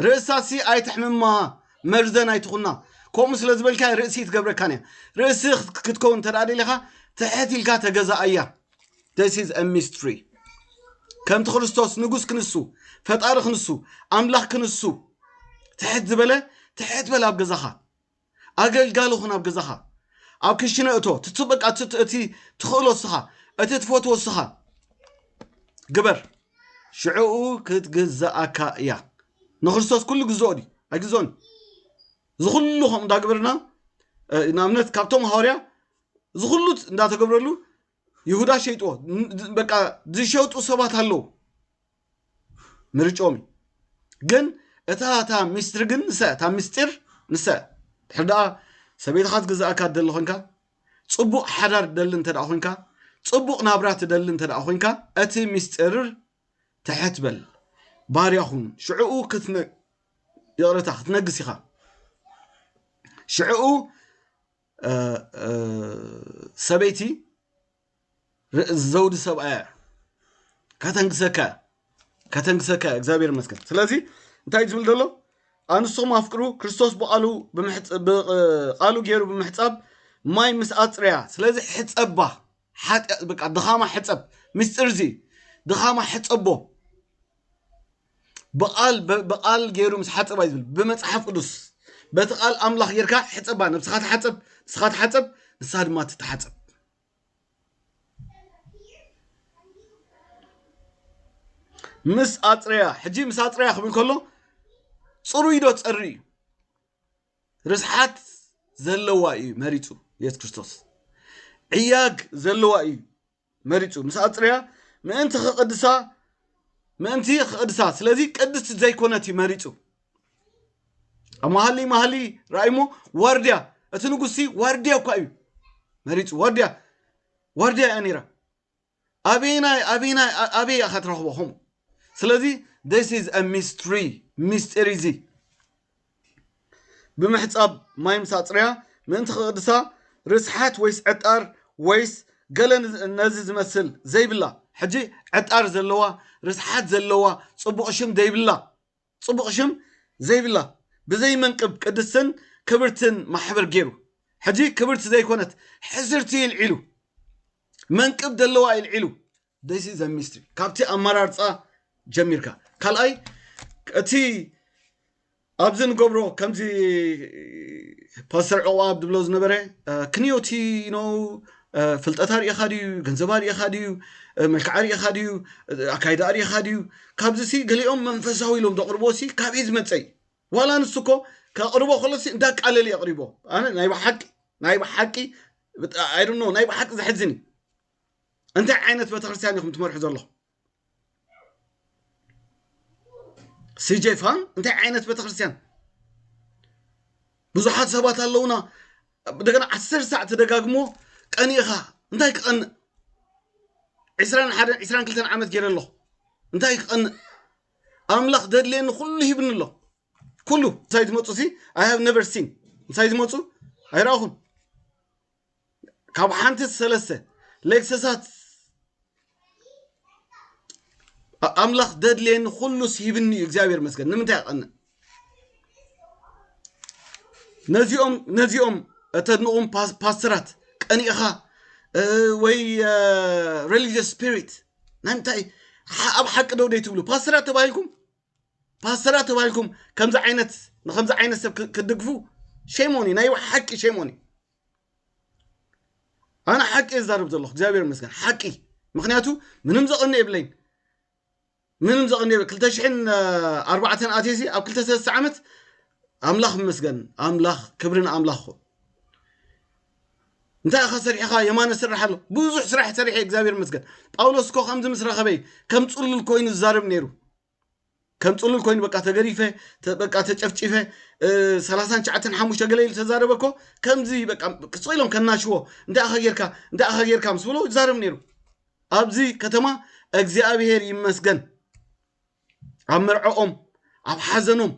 Speaker 1: ርእሳሲ ኣይተሕምማ መርዘን ኣይትኹና ከምኡ ስለ ዝበልካ ርእሲ ትገብረካን እያ ርእሲ ክትከውን እንተ ደሊኻ ትሕት ኢልካ ተገዛኣያ this is a mystery ከምቲ ክርስቶስ ንጉስ ክንሱ ፈጣሪ ክንሱ ኣምላኽ ክንሱ ትሕት ዝበለ ትሕት በል ኣብ ገዛኻ ኣገልጋሊ ኹን ኣብ ገዛኻ ኣብ ክሽነ እቶ ትትበቃ እቲ ትኽእሎ እስኻ እቲ ትፈትዎ እስኻ ግበር ሽዕኡ ክትግዛኣካ እያ ንክርስቶስ ኩሉ ግዝኦ ድዩ ኣይግዝኦን እዚ ኩሉ ከምኡ እንዳግበርና ንኣብነት ካብቶም ሃዋርያ እዚ ኩሉ እንዳተገብረሉ ይሁዳ ሸይጥዎ በቃ ዝሸጡ ሰባት ኣለዉ ምርጮም ግን እታ እታ ሚስትሪ ግን ንሳ እታ ምስጢር ንሳ ድሕር ደኣ ሰበይትኻ ዝግዛእካ ትደሊ ኮንካ ፅቡቕ ሓዳር ትደሊ እንተ ደኣ ኮንካ ፅቡቕ ናብራ ትደሊ እንተ ደኣ ኮንካ እቲ ሚስጢር ትሕት በል ባርያ ኹን ሽዕኡ ይቕረታ ክትነግስ ኢኻ ሽዕኡ ሰበይቲ ዘውዲ ሰብኣያ ከተንግሰካ ከተንግሰካ እግዚኣብሔር ይመስገን ስለዚ እንታይ ዝብል ዘሎ ኣንስቶም ኣፍቅሩ ክርስቶስ ብቃሉ ቃሉ ገይሩ ብምሕፃብ ማይ ምስ ኣፅርያ ስለዚ ሕፀባ ሓጢያ በቃ ድኻማ ሕፀብ ምስጢር እዚ ድኻማ ሕፀቦ ብቃል ብቃል ገይሩ ምስ ሓፀባ እዩ ዝብል ብመፅሓፍ ቅዱስ በቲ ቃል ኣምላኽ ጌርካ ሕፀባ ነብስኻ ተሓፀብ ንስኻ ተሓፀብ ንሳ ድማ ትተሓፀብ ምስ ኣፅረያ ሕጂ ምስ ኣፅረያ ክብል ከሎ ፅሩይ ዶ ፀሪ እዩ ርስሓት ዘለዋ እዩ መሪፁ የሱስ ክርስቶስ ዕያግ ዘለዋ እዩ መሪጹ ምስ ኣጽረያ ምእንቲ ክቕድሳ ምእንቲ ክቕድሳ ስለዚ ቅድስቲ ዘይኮነት እዩ መሪጹ ኣብ መሃሊ መሃሊ ራእይሞ ዋርድያ እቲ ንጉሲ ዋርድያ እኳ እዩ መሪፁ ዋርድያ ዋርድያ እያ ነይራ ኣበይናይ ኣበይናይ ኣበይ እያ ክትረኽቦ ከምኡ ስለዚ ስ ስ ሚስትሪ ሚስጢር እዚ ብምሕጻብ ማይ ምስ ኣጽረያ ምእንቲ ክቕድሳ ርስሓት ወይስ ዕጣር ወይስ ገለ ነዚ ዝመስል ዘይብላ ሕጂ ዕጣር ዘለዋ ርስሓት ዘለዋ ጽቡቕ ሽም ዘይብላ ጽቡቕ ሽም ዘይብላ ብዘይ መንቅብ ቅድስትን ክብርትን ማሕበር ገይሩ ሕጂ ክብርቲ ዘይኮነት ሕስርቲ ይልዒሉ መንቅብ ደለዋ ይልዒሉ This is a mystery. ካብቲ ኣመራርፃ ጀሚርካ ካልኣይ እቲ ኣብዚ ንገብሮ ከምዚ ፓስተር ዕቑባ ዝብሎ ዝነበረ ክንዮቲ ኖ ፍልጠት ኣርእኻ ድዩ ገንዘብ ኣርእኻ ድዩ መልክዕ ኣርእኻ ድዩ ኣካይዳ ኣርእኻ ድዩ ካብዚ ሲ ገሊኦም መንፈሳዊ ኢሎም ዘቕርቦ ሲ ካበይ ዝመፀ እዩ ዋላ ንሱ እኮ ከቕርቦ ከሎ ሲ እንዳቃለለ የቕሪቦ ኣነ ናይ ብሓቂ ናይ ብሓቂ ኣይዶኖ ናይ ብሓቂ ዘሕዝን እዩ እንታይ ዓይነት ቤተክርስትያን ኢኹም ትመርሑ ዘለኹም ሲጄ ፋን እንታይ ዓይነት ቤተክርስትያን ብዙሓት ሰባት ኣለውና እንደገና ዓስር ሳዕ ተደጋግሞ ቀኒእኻ እንታይ ክቐንእ ዕስራን ሓደን ዕስራን ክልተን ዓመት ገይረ ኣለኹ እንታይ ክቐንእ ኣምላኽ ዘድልየኒ ኩሉ ሂብኒ ኣሎ ኩሉ እንታይ ዝመፁ ሲ ኣይ ሃብ ነቨር ሲን እንታይ ዝመፁ ኣይረኣኹን ካብ ሓንቲ ሰለስተ ሌክሰሳት ኣምላኽ ደድልየኒ ኩሉ ስሂብኒ እዩ እግዚኣብሔር መስገን ንምንታይ ይቐንእ ነዚኦም ነዚኦም እተድንቑም ፓስተራት ቀኒእኻ ወይ ሬሊጅስ ስፒሪት ናይ ምንታይ ኣብ ሓቂ ደው ደይ ትብሉ ፓስተራት ተባሂልኩም ፓስተራት ተባሂልኩም ከምዚ ዓይነት ንከምዚ ዓይነት ሰብ ክድግፉ ሸሞኒ ናይ ሓቂ ሸሞኒ ኣነ ሓቂ እየ ዝዛረብ ዘለኹ እግዚኣብሔር ይመስገን ሓቂ ምክንያቱ ምንም ዘቕኒ የብለይን ምንም ዘቕኒ የብለ ክልተ ሽሕን ኣርባዕተን ኣትየሲ ኣብ ክልተ ሰለስተ ዓመት ኣምላኽ ይመስገን ኣምላኽ ክብሪ ንኣምላኽ ኹን እንታይ ኢኻ ሰሪሕኻ የማነ ስራሕ ኣሎ ብዙሕ ስራሕ ሰሪሐ እግዚኣብሔር ይመስገን ጳውሎስ እኮ ከምዚ ምስ ረኸበይ ከም ፅሉል ኮይኑ ዝዛረብ ነይሩ ከም ፅሉል ኮይኑ በቃ ተገሪፈ ተ- በቃ ተጨፍጪፈ እ፣ ሰላሳን ትሽዓተን ሓሙሽተ ገለ ኢሉ ተዛረበ እኮ ከምዚ በቃ ቅፅ ኢሎም ከናሽዎ እንታይ ኢኻ ጌርካ እንታይ ኢኻ ጌርካ ምስ ብሎ ይዛረብ ነይሩ ኣብዚ ከተማ እግዚኣብሄር ይመስገን ኣብ መርዐኦም ኣብ ሓዘኖም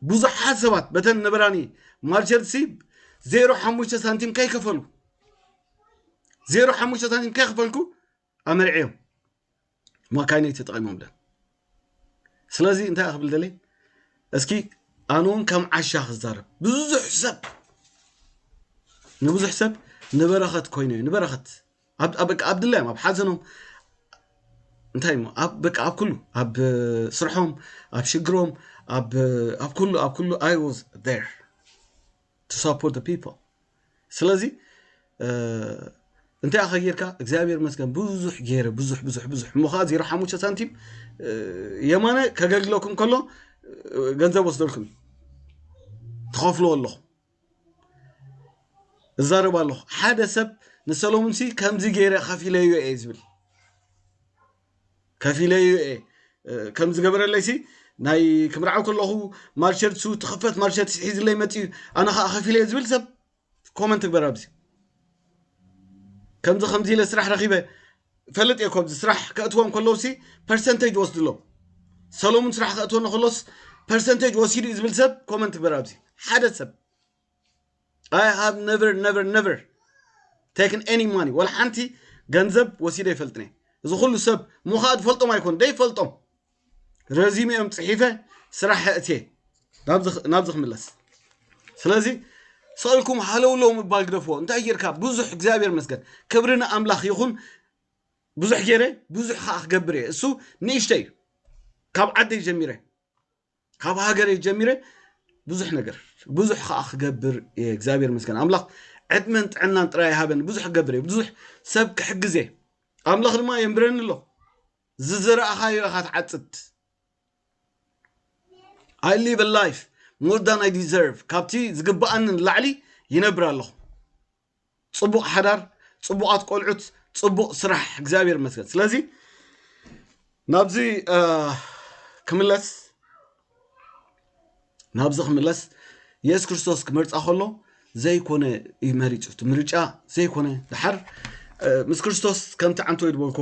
Speaker 1: ብዙሓት ሰባት በተን ነበራኒ ማርቸርሲ ዜሮ ሓሙሽተ ሳንቲም ከይከፈሉ ዜሮ ሓሙሽተ ሳንቲም ከይከፈልኩ ኣመርዕዮም ማካይነይ ተጠቒሞምለን ስለዚ እንታይ ክብል ደለይ እስኪ ኣነ እውን ከም ዓሻ ክዛረብ ብዙሕ ሰብ ንብዙሕ ሰብ ንበረኸት ኮይኑ እዩ ንበረኸት በቃ ኣብ ድላዮም ኣብ ሓዘኖም እንታይ እሞ ኣብ በቃ ኣብ ኩሉ ኣብ ስርሖም ኣብ ሽግሮም ኣብ ኩሉ ኣብ ኩሉ ኣይ ዋዝ ር to support the people ስለዚ እንታይ ኣኸ ጌርካ እግዚኣብሔር መስገን ብዙሕ ገይረ ብዙሕ ብዙሕ ብዙሕ እሞ ከዓ ዜሮ ሓሙሽተ ሳንቲም የማነ ከገልግለኩም ከሎ ገንዘብ ወስደልኩም እዩ ትኸፍልዎ ኣለኹም እዛረብ ኣለኹ ሓደ ሰብ ንሰሎሙን ሲ ከምዚ ገይረ ከፊለዮ እየ ዝብል ከፊለዩ እየ ከም ዝገበረለይሲ ናይ ክምርዓው ከለኹ ማርሸት ሱ ትኽፈት ማርሸት ሒዝለይ መፅዩ ኣነ ከዓ ከፊለ እየ ዝብል ሰብ ኮመንት ግበር ኣብዚ ከምዚ ከምዚ ኢለ ስራሕ ረኺበ ፈልጥ እየ ኮዚ ስራሕ ከእትዎም ከለውሲ ፐርሰንቴጅ ወስድሎ ሰሎሙን ስራሕ ከእትወኒ ከሎስ ፐርሰንቴጅ ወሲዱ እዩ ዝብል ሰብ ኮመንት ግበር ኣብዚ ሓደ ሰብ ኣይ ሃቭ ነቨር ነቨር ነቨር ቴክን ኤኒ ማኒ ወላ ሓንቲ ገንዘብ ወሲደ ይፈልጥኒ እዚ ኩሉ ሰብ ሙኻ ዝፈልጦም ኣይኮኑ ደይፈልጦም ረዚሚኦም ፅሒፈ ስራሕ እትየ ናብዚ ክምለስ ስለዚ ሰልኩም ሃለውለው ምባል ግደፍዎ እንታይ ጌርካ ብዙሕ እግዚኣብሔር መስገን ክብሪ ንኣምላኽ ይኹን ብዙሕ ገይረ ብዙሕ ከዓ ክገብር እየ እሱ ንእሽተ እዩ ካብ ዓደይ ጀሚረ ካብ ሃገረይ ጀሚረ ብዙሕ ነገር ብዙሕ ከዓ ክገብር እየ እግዚኣብሔር መስገን ኣምላኽ ዕድመን ጥዕናን ጥራይ ሃበን ብዙሕ ክገብር እየ ብዙሕ ሰብ ክሕግዝ እየ ኣምላኽ ድማ የንብረኒ ኣሎ ዝዘራእኻዮ ኢኻ ትዓፅድ ኣይ ሊቭ ላይፍ ሞር ዳን ኣይ ዲዘርቭ ካብቲ ዝግባኣኒ ንላዕሊ ይነብር ኣለኹ ጽቡቅ ሓዳር ጽቡቃት ቆልዑት ጽቡቅ ስራሕ እግዚኣብሔር ይመስገን ስለዚ ናብዚ ክምለስ ናብዚ ክምለስ የሱስ ክርስቶስ ክመርፃ ከሎ ዘይኮነ እዩ መሪፁ እቲ ምርጫ ዘይኮነ ድሓር ምስ ክርስቶስ ከምቲ ዓንቶ ይድበልኮ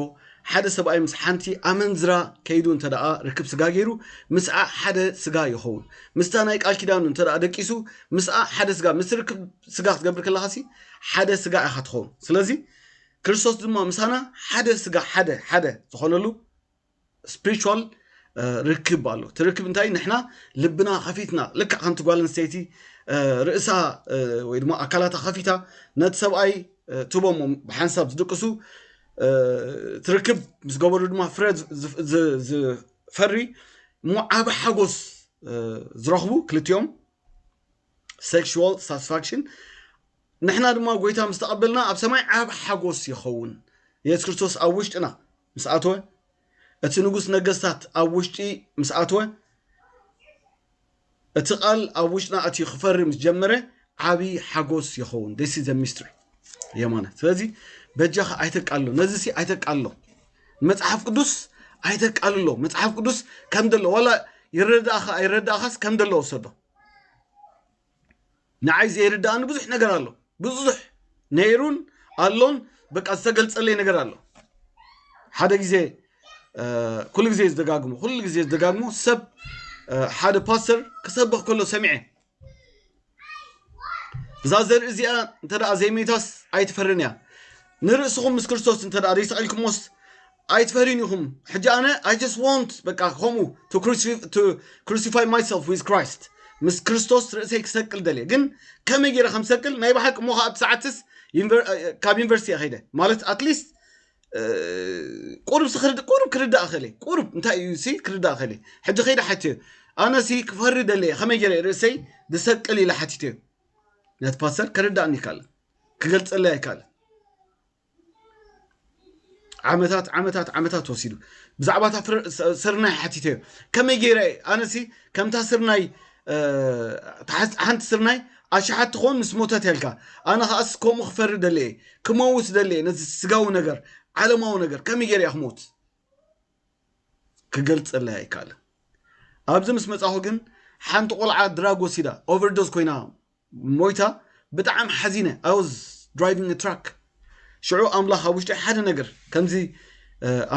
Speaker 1: ሓደ ሰብኣይ ምስ ሓንቲ ኣመንዝራ ከይዱ እንተ ደኣ ርክብ ስጋ ገይሩ ምስኣ ሓደ ስጋ ይኸውን ምስታ ናይ ቃል ኪዳኑ እንተ ደቂሱ ምስኣ ሓደ ስጋ ምስ ርክብ ስጋ ክትገብር ከለኻሲ ሓደ ስጋ ኢኻ ትኸውን ስለዚ ክርስቶስ ድማ ምሳና ሓደ ስጋ ሓደ ሓደ ዝኾነሉ ስፕሪቹዋል ርክብ ኣሎ እቲ ርክብ እንታይ ንሕና ልብና ከፊትና ልክዕ ከምቲ ጓል ኣንስተይቲ ርእሳ ወይ ድማ ኣካላታ ከፊታ ነቲ ሰብኣይ ትቦሞ ብሓንሳብ ዝድቅሱ ትርክብ ምስ ገበሩ ድማ ፍረ ዝፈሪ እሞ ዓበ ሓጎስ ዝረኽቡ ክልቲኦም ሴክሹዋል ሳትስፋክሽን ንሕና ድማ ጎይታ ምስ ተቐበልና ኣብ ሰማይ ዓብ ሓጎስ ይኸውን የሱስ ክርስቶስ ኣብ ውሽጥና ምስ ኣተወ እቲ ንጉስ ነገስታት ኣብ ውሽጢ ምስ ኣተወ እቲ ቃል ኣብ ውሽጥና ኣትዩ ክፈሪ ምስ ጀመረ ዓብዪ ሓጎስ ይኸውን ደሲ ዘ ሚስትሪ የማነ ስለዚ በጃኻ ኣይተቃሎ ነዚ ሲ ኣይተቃሎ መጽሓፍ ቅዱስ ኣይተቃልሎ መጽሓፍ ቅዱስ ከም ደሎ ዋላ ይረዳእኻ ኣይረዳእኻስ ከም ደሎ ወሰዶ ንዓይ ዘይርድኣኒ ብዙሕ ነገር ኣሎ ብዙሕ ነይሩን ኣሎን በቃ ዝተገልጸለይ ነገር ኣሎ ሓደ ግዜ ኩሉ ግዜ ዝደጋግሞ ኩሉ ግዜ ዝደጋግሞ ሰብ ሓደ ፓስተር ክሰብኽ ከሎ ሰሚዐ እዛ ዘርኢ እዚኣ እንተ ዘይመይታስ ኣይትፈርን እያ ንርእስኹም ምስ ክርስቶስ እንተ ደኣ ዘይሰቂልኩሞስ ኣይትፈርዩን ኢኹም ሕጂ ኣነ ኣይ ጀስት ዎንት በቃ ከምኡ ቱ ክሩሲፋይ ማይሰልፍ ዊዝ ክራይስት ምስ ክርስቶስ ርእሰይ ክሰቅል ደልየ ግን ከመይ ገይረ ከም ሰቅል ናይ ብሓቂ እሞ ከኣ እቲ ሰዓትስ ካብ ዩኒቨርሲቲ እየ ከይደ ማለት ኣትሊስት ቁሩብ ቁሩብ ክርዳእ ክእል ቁሩብ እንታይ እዩ ሲ ክርዳእ ክእል ሕጂ ከይደ ሓትዮ ኣነ ሲ ክፈሪ ደልየ ከመይ ገይረ ርእሰይ ዝሰቅል ኢለ ሓቲትዮ ነቲ ፓስተር ከረዳእኒ ይካለ ክገልጸለይ ኣይካለ ዓመታት ዓመታት ዓመታት ወሲዱ ብዛዕባ እታ ስርናይ ሓቲተዮ ከመይ ገይረ ኣነሲ ከምታ ስርናይ ሓንቲ ስርናይ ኣሽሓት ትኾን ምስ ሞተት ያልካ ኣነ ከዓስ ከምኡ ክፈሪ ደለየ ክመውት ደለየ ነዚ ስጋዊ ነገር ዓለማዊ ነገር ከመይ ገይረ እያ ክሞት ክገልፀላ ኣይከኣልን ኣብዚ ምስ መፃኹ ግን ሓንቲ ቆልዓ ድራግ ወሲዳ ኦቨርዶዝ ኮይና ሞይታ ብጣዕም ሓዚነ i was driving a truck ሽዑ ኣምላኽ ኣብ ውሽጢ ሓደ ነገር ከምዚ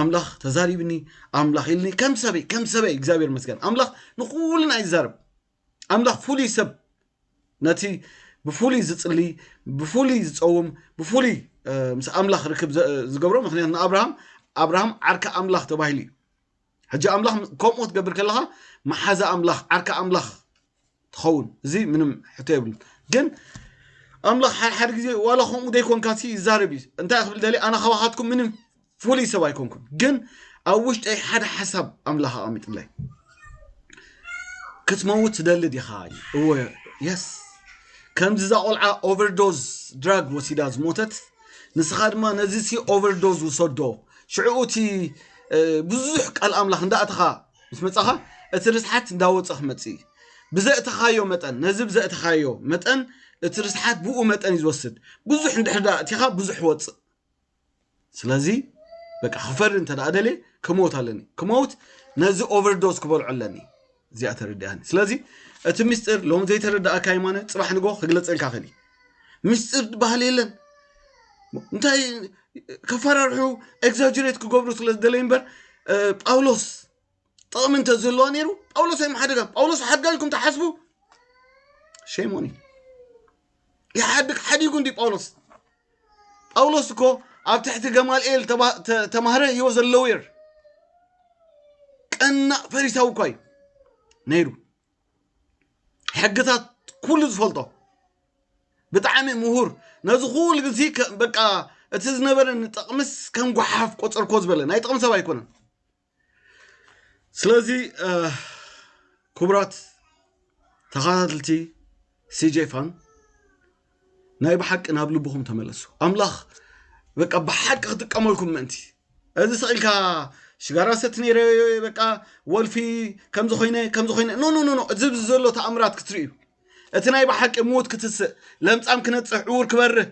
Speaker 1: ኣምላኽ ተዛሪብኒ ኣምላኽ ኢልኒ ከም ሰበይ ከም ሰበይ እግዚኣብሔር መስገን ኣምላኽ ንኩልና ይዛረብ ኣምላኽ ፍሉይ ሰብ ነቲ ብፍሉይ ዝጽሊ ብፍሉይ ዝጸውም ብፍሉይ ምስ ኣምላኽ ርክብ ዝገብሮ ምክንያቱ ንኣብርሃም ኣብርሃም ዓርኪ ኣምላኽ ተባሂሉ እዩ ሕጂ ኣምላኽ ከምኡ ክትገብር ከለኻ መሓዛ ኣምላኽ ዓርኪ ኣምላኽ ትኸውን እዚ ምንም ሕቶ የብሉን ግን ኣምላኽ ሓድሓደ ግዜ ዋላ ከምኡ ዘይኮንካ ሲ ይዛረብ እዩ እንታይ ክብል ደሊ ኣነ ካባኻትኩም ምንም ፍሉይ ሰብ ኣይኮንኩን ግን ኣብ ውሽጠይ ሓደ ሓሳብ ኣምላኽ ኣቐሚጥለይ ክትመውት ትደሊ ዲኻ እወ የስ ከምዚ እዛ ቆልዓ ኦቨርዶዝ ድራግ ወሲዳ ዝሞተት ንስኻ ድማ ነዚሲ ኦቨርዶዝ ውሰዶ ሽዕኡ እቲ ብዙሕ ቃል ኣምላኽ እንዳእተኻ ምስ መጻኻ እቲ ርስሓት እንዳወጸ ክመጽእ ብዘእተኻዮ መጠን ነዚ ብዘእተኻዮ መጠን እቲ ርስሓት ብኡ መጠን እዩ ዝወስድ ብዙሕ እንድሕር ዳ እቲኻ ብዙሕ ወጽእ ስለዚ በቃ ክፈሪ እንተ ደኣ ደልየ ክመውት ኣለኒ ክመውት ነዚ ኦቨርዶዝ ክበልዖ ኣለኒ እዚኣ ተረዲኣኒ ስለዚ እቲ ምስጢር ሎም ዘይተረዳእካ የማነ ፅባሕ ንጎ ክግለፀልካ ክእል እዩ ምስጢር ዝበሃል የለን እንታይ ከፈራርሑ ኤግዛጅሬት ክገብሩ ስለ ዝደለዩ እምበር ጳውሎስ ጥቕሚ እንተ ዘለዋ ነይሩ ጳውሎስ ኣይመሓደጋም ጳውሎስ ሓድጋ ኢልኩም ተሓስቡ ሸሞኒ ይሓድግ ሓዲጉ እንዲ ጳውሎስ ጳውሎስ እኮ ኣብ ትሕቲ ገማልኤል ተማህረ ሂወ ዘለውር ቀናእ ፈሪሳዊ እኳ እዩ ነይሩ ሕግታት ኩሉ ዝፈልጦ ብጣዕሚ ምሁር ነዚ ኩሉ ግዚ በቃ እቲ ዝነበረ ንጥቕምስ ከም ጓሓፍ ቆፀርኮ ዝበለ ናይ ጥቕሚ ሰብ ኣይኮነን ስለዚ ክቡራት ተኸታተልቲ ሲጄ ፋን ናይ ብሓቂ ናብ ልብኹም ተመለሱ ኣምላኽ በቃ ብሓቂ ክጥቀመልኩም ምእንቲ እዚ ስኢልካ ሽጋራ ሰት ነይረ በቃ ወልፊ ከምዚ ኮይነ ከምዚ ኮይነ ኖ ኖ ኖ እዚ ዘሎ ተኣምራት ክትርእዩ እቲ ናይ ብሓቂ ምዉት ክትስእ ለምፃም ክነፅሕ ዕዉር ክበርህ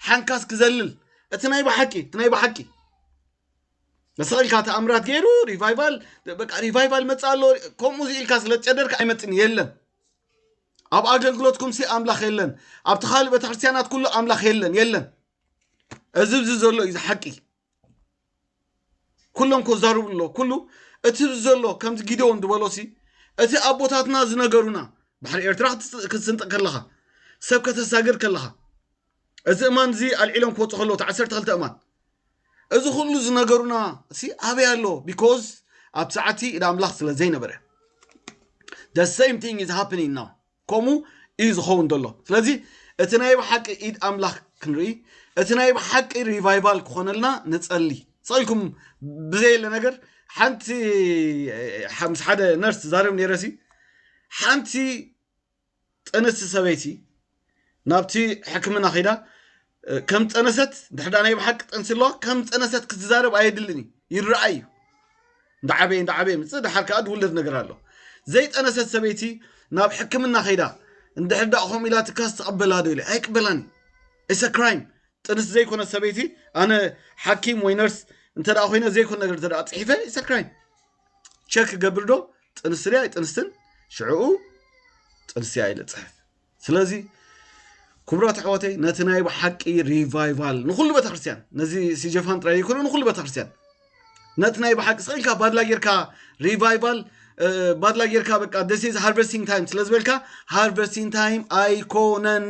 Speaker 1: ሓንካስ ክዘልል እቲ ናይ ብሓቂ እቲ ናይ ብሓቂ ንስኻ ኢልካ ተኣምራት ገይሩ ሪቫይቫል በቃ ሪቫይቫል መፃ ኣሎ ከምኡ ኢልካ ስለ ዝጨደርካ ኣይመፅን የለን ኣብ ኣገልግሎትኩም ሲ ኣምላኽ የለን ኣብቲ ካልእ ቤተክርስትያናት ኩሉ ኣምላኽ የለን የለን እዚ ብዚ ዘሎ እዩ ዝሓቂ ኩሎም ከዛርቡ ኣሎ ኩሉ እቲ ዘሎ ከምዚ ጊደዎን ዝበሎ ሲ እቲ ኣቦታትና ዝነገሩና ባሕሪ ኤርትራ ክትስንጥቕ ከለኻ ሰብ ከተሳግር ከለኻ እዚ እማን እዚ ኣልዒሎም ክወፁ ከለዉ እቲ ዓሰርተ ክልተ እማን እዚ ኩሉ ዝነገሩና እሲ ኣበይ ኣሎ ቢኮዝ ኣብ ሰዓቲ ኢድ ኣምላኽ ስለ ዘይነበረ the same thing is happening now ከምኡ እዩ ዝኸውን ዘሎ ስለዚ እቲ ናይ ብሓቂ ኢድ ኣምላኽ ክንርኢ እቲ ናይ ብሓቂ ሪቫይቫል ክኾነልና ንጸሊ ጸልኩም ብዘየለ ነገር ሓንቲ ምስ ሓደ ነርስ ዛረብ ነይረሲ ሓንቲ ዝጠነስቲ ሰበይቲ ናብቲ ሕክምና ኺዳ ከም ዝጠነሰት ድሕዳ ናይ ብሓቂ ጠንሲ ኣለዋ ከም ዝጠነሰት ክትዛረብ ኣየድልን እዩ ይረኣይ እዩ እንዳዓበየ እንዳዓበየ ምፅእ ድሓር ከዓ ድውለድ ነገር ኣሎ ዘይጠነሰት ሰበይቲ ናብ ሕክምና ከይዳ እንድሕር ዳኣ ከምኡ ኢላ ትካስ ትቐበላ ዶ ኢለ ኣይቅበላን ኢሰ ክራይም ጥንስ ዘይኮነ ሰበይቲ ኣነ ሓኪም ወይ ነርስ እንተ ኮይነ ዘይኮነ ነገር እንተ ፅሒፈ ኢሰ ክራይም ቸክ ክገብር ዶ ጥንስቲ ድያ ኣይጥንስትን ሽዕኡ ጥንስቲ እያ ኢለ ፅሕፍ ስለዚ ክቡራት ኣሕዋተይ ነቲ ናይ ብሓቂ ሪቫይቫል ንኩሉ ቤተክርስትያን ነዚ ሲጀፋን ጥራይ ይኮነ ንኩሉ ቤተክርስትያን ነቲ ናይ ብሓቂ ስኢልካ ባድላ ጌርካ ሪቫይቫል ባድላ ጌርካ በቃ ደስ ሃርቨስቲንግ ታይም ስለ ዝበልካ ሃርቨስቲንግ ታይም ኣይኮነን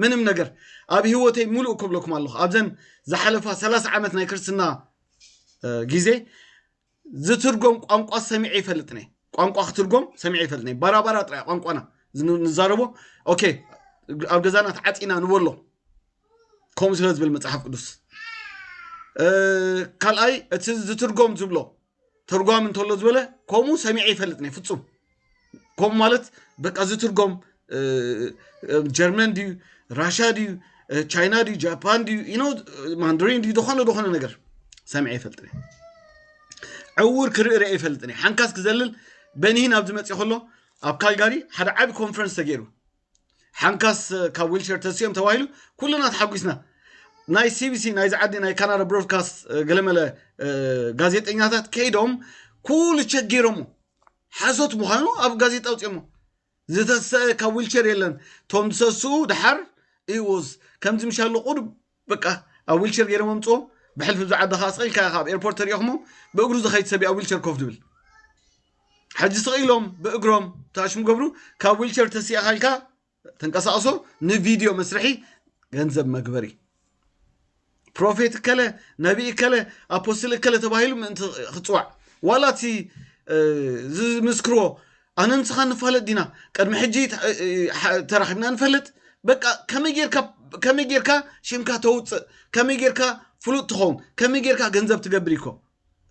Speaker 1: ምንም ነገር ኣብ ህይወተይ ሙሉእ ክብለኩም ኣለኹ ኣብዘን ዝሓለፋ ሰላሳ ዓመት ናይ ክርስትና ግዜ ዝትርጎም ቋንቋ ሰሚዐ ይፈልጥነ ቋንቋ ክትርጎም ሰሚዐ ይፈልጥነ ባራባራ ጥራይ ቋንቋና ንዛረቦ ኦኬ ኣብ ገዛና ተዓፂና ንበሎ ከምኡ ስለ ዝብል መፅሓፍ ቅዱስ ካልኣይ እቲ ዝትርጎም ዝብሎ ተርጓሚ እንተሎ ዝበለ ከምኡ ሰሚዐ ይፈልጥነ ፍፁም ከምኡ ማለት በቃ ዝትርጎም ጀርመን ድዩ ራሻ ድዩ ቻይና ድዩ ጃፓን ድዩ ኢኖ ማንድሪን ድዩ ዝኾነ ዝኾነ ነገር ሰሚዐ ይፈልጥን ዕውር ክርኢ ርአ ይፈልጥን ሓንካስ ክዘልል በኒህን ኣብዚ መፅእ ከሎ ኣብ ካልጋሪ ሓደ ዓቢ ኮንፈረንስ ተገይሩ ሓንካስ ካብ ዊልቸር ተስኦም ተባሂሉ ኩሉና ተሓጒስና ናይ ሲቢሲ ናይዚ ዓዲ ናይ ካናዳ ብሮድካስት ገለመለ ጋዜጠኛታት ከይዶም ኩሉ ቸገይሮሞ ሓሶት ምዃኑ ኣብ ጋዜጣ ውፅኦሞ ዝተሰ ካብ ዊልቸር የለን ቶም ዝሰስኡ ድሓር ኢዎስ ከምዚ ምሻሎ ቁሩብ በቃ ኣብ ዊልቸር ገይሮም ኣምፅኦም ብሕልፊ ብዛዕባ ድኻ ስቂልካ ኢኻ ኣብ ኤርፖርት ተሪኦኽሞም ብእግሩ ዝኸይድ ሰብ ኣብ ዊልቸር ኮፍ ድብል ሕጂ ስቕ ኢሎም ብእግሮም ታሽሙ ገብሩ ካብ ዊልቸር ተሲእኻ ኢልካ ተንቀሳቕሶ ንቪድዮ መስርሒ ገንዘብ መግበሪ ፕሮፌት እከለ ነቢ እከለ ኣፖስትል እከለ ተባሂሉ ምእንቲ ክፅዋዕ ዋላ እቲ ዝምስክርዎ ኣነ ንስኻ ንፋለጥ ዲና ቅድሚ ሕጂ ተራኺብና ንፈልጥ በቃ ከመይ ጌርካ ሽምካ ተውፅእ ከመይ ጌርካ ፍሉጥ ትኸውን ከመይ ጌርካ ገንዘብ ትገብር ይኮ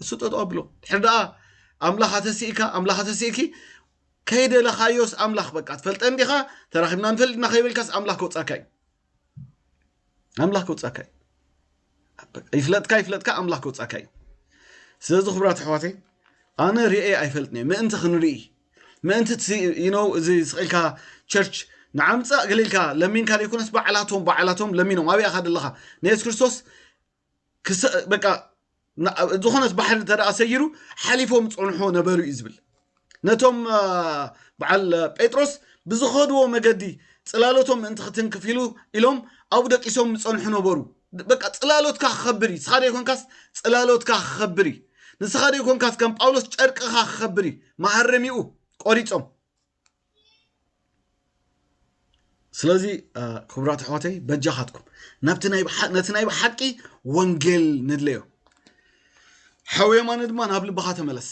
Speaker 1: እሱ ጠጠው ኣብሎ ድሕሪ ደኣ ኣምላኽ ኣተስኢካ ኣምላኽ ኣተስኢኪ ከይደለኻዮስ ኣምላኽ በቃ ትፈልጠን ዲኻ ተራኺብና ንፈልጥ ኢና ከይበልካስ ኣምላኽ ከውፃካ እዩ ኣምላኽ ከውፃካ እዩ ይፍለጥካ ይፍለጥካ ኣምላኽ ከውፃካ እዩ ስለዚ ክብራት ኣሕዋተይ ኣነ ርኤ ኣይፈልጥን እየ ምእንቲ ክንርኢ ምእንቲ ነው እዚ ስቂልካ ቸርች ንዓምፃእ ገሌልካ ለሚንካ ዘይኮነስ ባዕላቶም ባዕላቶም ለሚኖም ኣብይ ኣኻ ደለኻ ንየሱስ ክርስቶስ ዝኾነት ባሕሪ እንተ ሰጊሩ ሓሊፎም ፀንሖ ነበሩ እዩ ዝብል ነቶም በዓል ጴጥሮስ ብዝኸድዎ መገዲ ፅላሎቶም ምእንቲ ክትንክፍ ኢሉ ኢሎም ኣብኡ ደቂሶም ዝፀንሑ ነበሩ በቃ ፅላሎትካ ክኸብር እዩ ንስኻ ዘይኮንካስ ፅላሎትካ ክኸብር እዩ ንስኻ ዘይኮንካስ ከም ጳውሎስ ጨርቅኻ ክኸብር እዩ መሃረሚኡ ቆሪፆም ስለዚ ክቡራት ኣሕዋተይ በጃኻትኩም ናብቲ ነቲ ናይ ብሓቂ ወንጌል ንድለዮ ሓው የማነ ድማ ናብ ልብኻ ተመለስ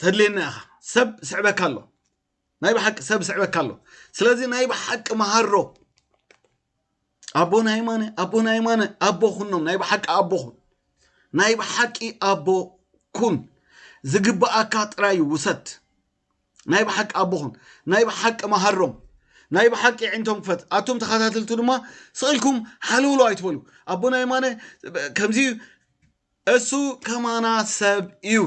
Speaker 1: ተድልየና ኢኻ ሰብ ስዕበካ ኣሎ ናይ ብሓቂ ሰብ ስዕበካ ኣሎ ስለዚ ናይ ብሓቂ መሃሮ ኣቦና የማነ ኣቦና የማነ ኣቦ ኩኖም ናይ ብሓቂ ኣቦ ኩን ናይ ብሓቂ ኣቦ ኩን ዝግብኣካ ጥራይ ውሰድ ናይ ብሓቂ ኣቦኹም ናይ ብሓቂ መሃሮም ናይ ብሓቂ ዕንቶም ክፈት ኣቱም ተኸታተልቱ ድማ ስቕልኩም ሓልውሉ ኣይትበሉ ኣቦና የማነ ከምዚ እሱ ከማና ሰብ እዩ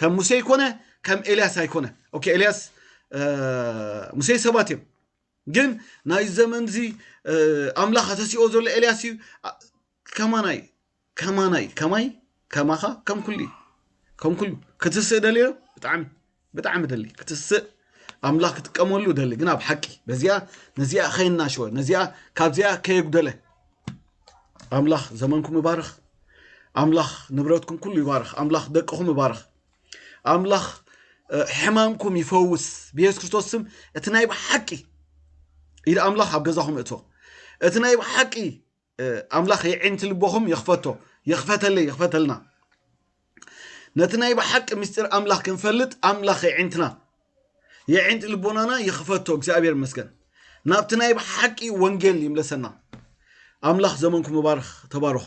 Speaker 1: ከም ሙሴ ይኮነ ከም ኤልያስ ኣይኮነ ኦኬ ኤልያስ ሙሴ ሰባት እዮም ግን ናይ ዘመን እዚ ኣምላኽ ኣተሲኦ ዘሎ ኤልያስ እዩ ከማናይ ከማናይ ከማይ ከማኻ ከም ኩሉ እዩ ከም ኩሉ ክትስእ ደልዮ ብጣዕሚ ብጣዕሚ ደሊ ክትስእ ኣምላኽ ክጥቀመሉ ደሊ ግን ኣብ ሓቂ በዚኣ ነዚኣ ከይናሸወ ነዚኣ ካብዚኣ ከየጉደለ ኣምላኽ ዘመንኩም ይባርኽ ኣምላኽ ንብረትኩም ኩሉ ይባርኽ ኣምላኽ ደቅኹም ይባርኽ ኣምላኽ ሕማምኩም ይፈውስ ብየሱስ ክርስቶስ ስም እቲ ናይ ብሓቂ ኢድ ኣምላኽ ኣብ ገዛኹም እቶ እቲ ናይ ብሓቂ ኣምላኽ የዒንቲ ልቦኹም ይኽፈቶ ይኽፈተለይ ይኽፈተልና ነቲ ናይ ብሓቂ ምስጢር ኣምላኽ ክንፈልጥ ኣምላኽ የዒንትና የዒንቲ ልቦናና ይኽፈቶ እግዚኣብሔር መስገን ናብቲ ናይ ብሓቂ ወንጌል ይምለሰና ኣምላኽ ዘመንኩም ይባርኽ ተባረኹ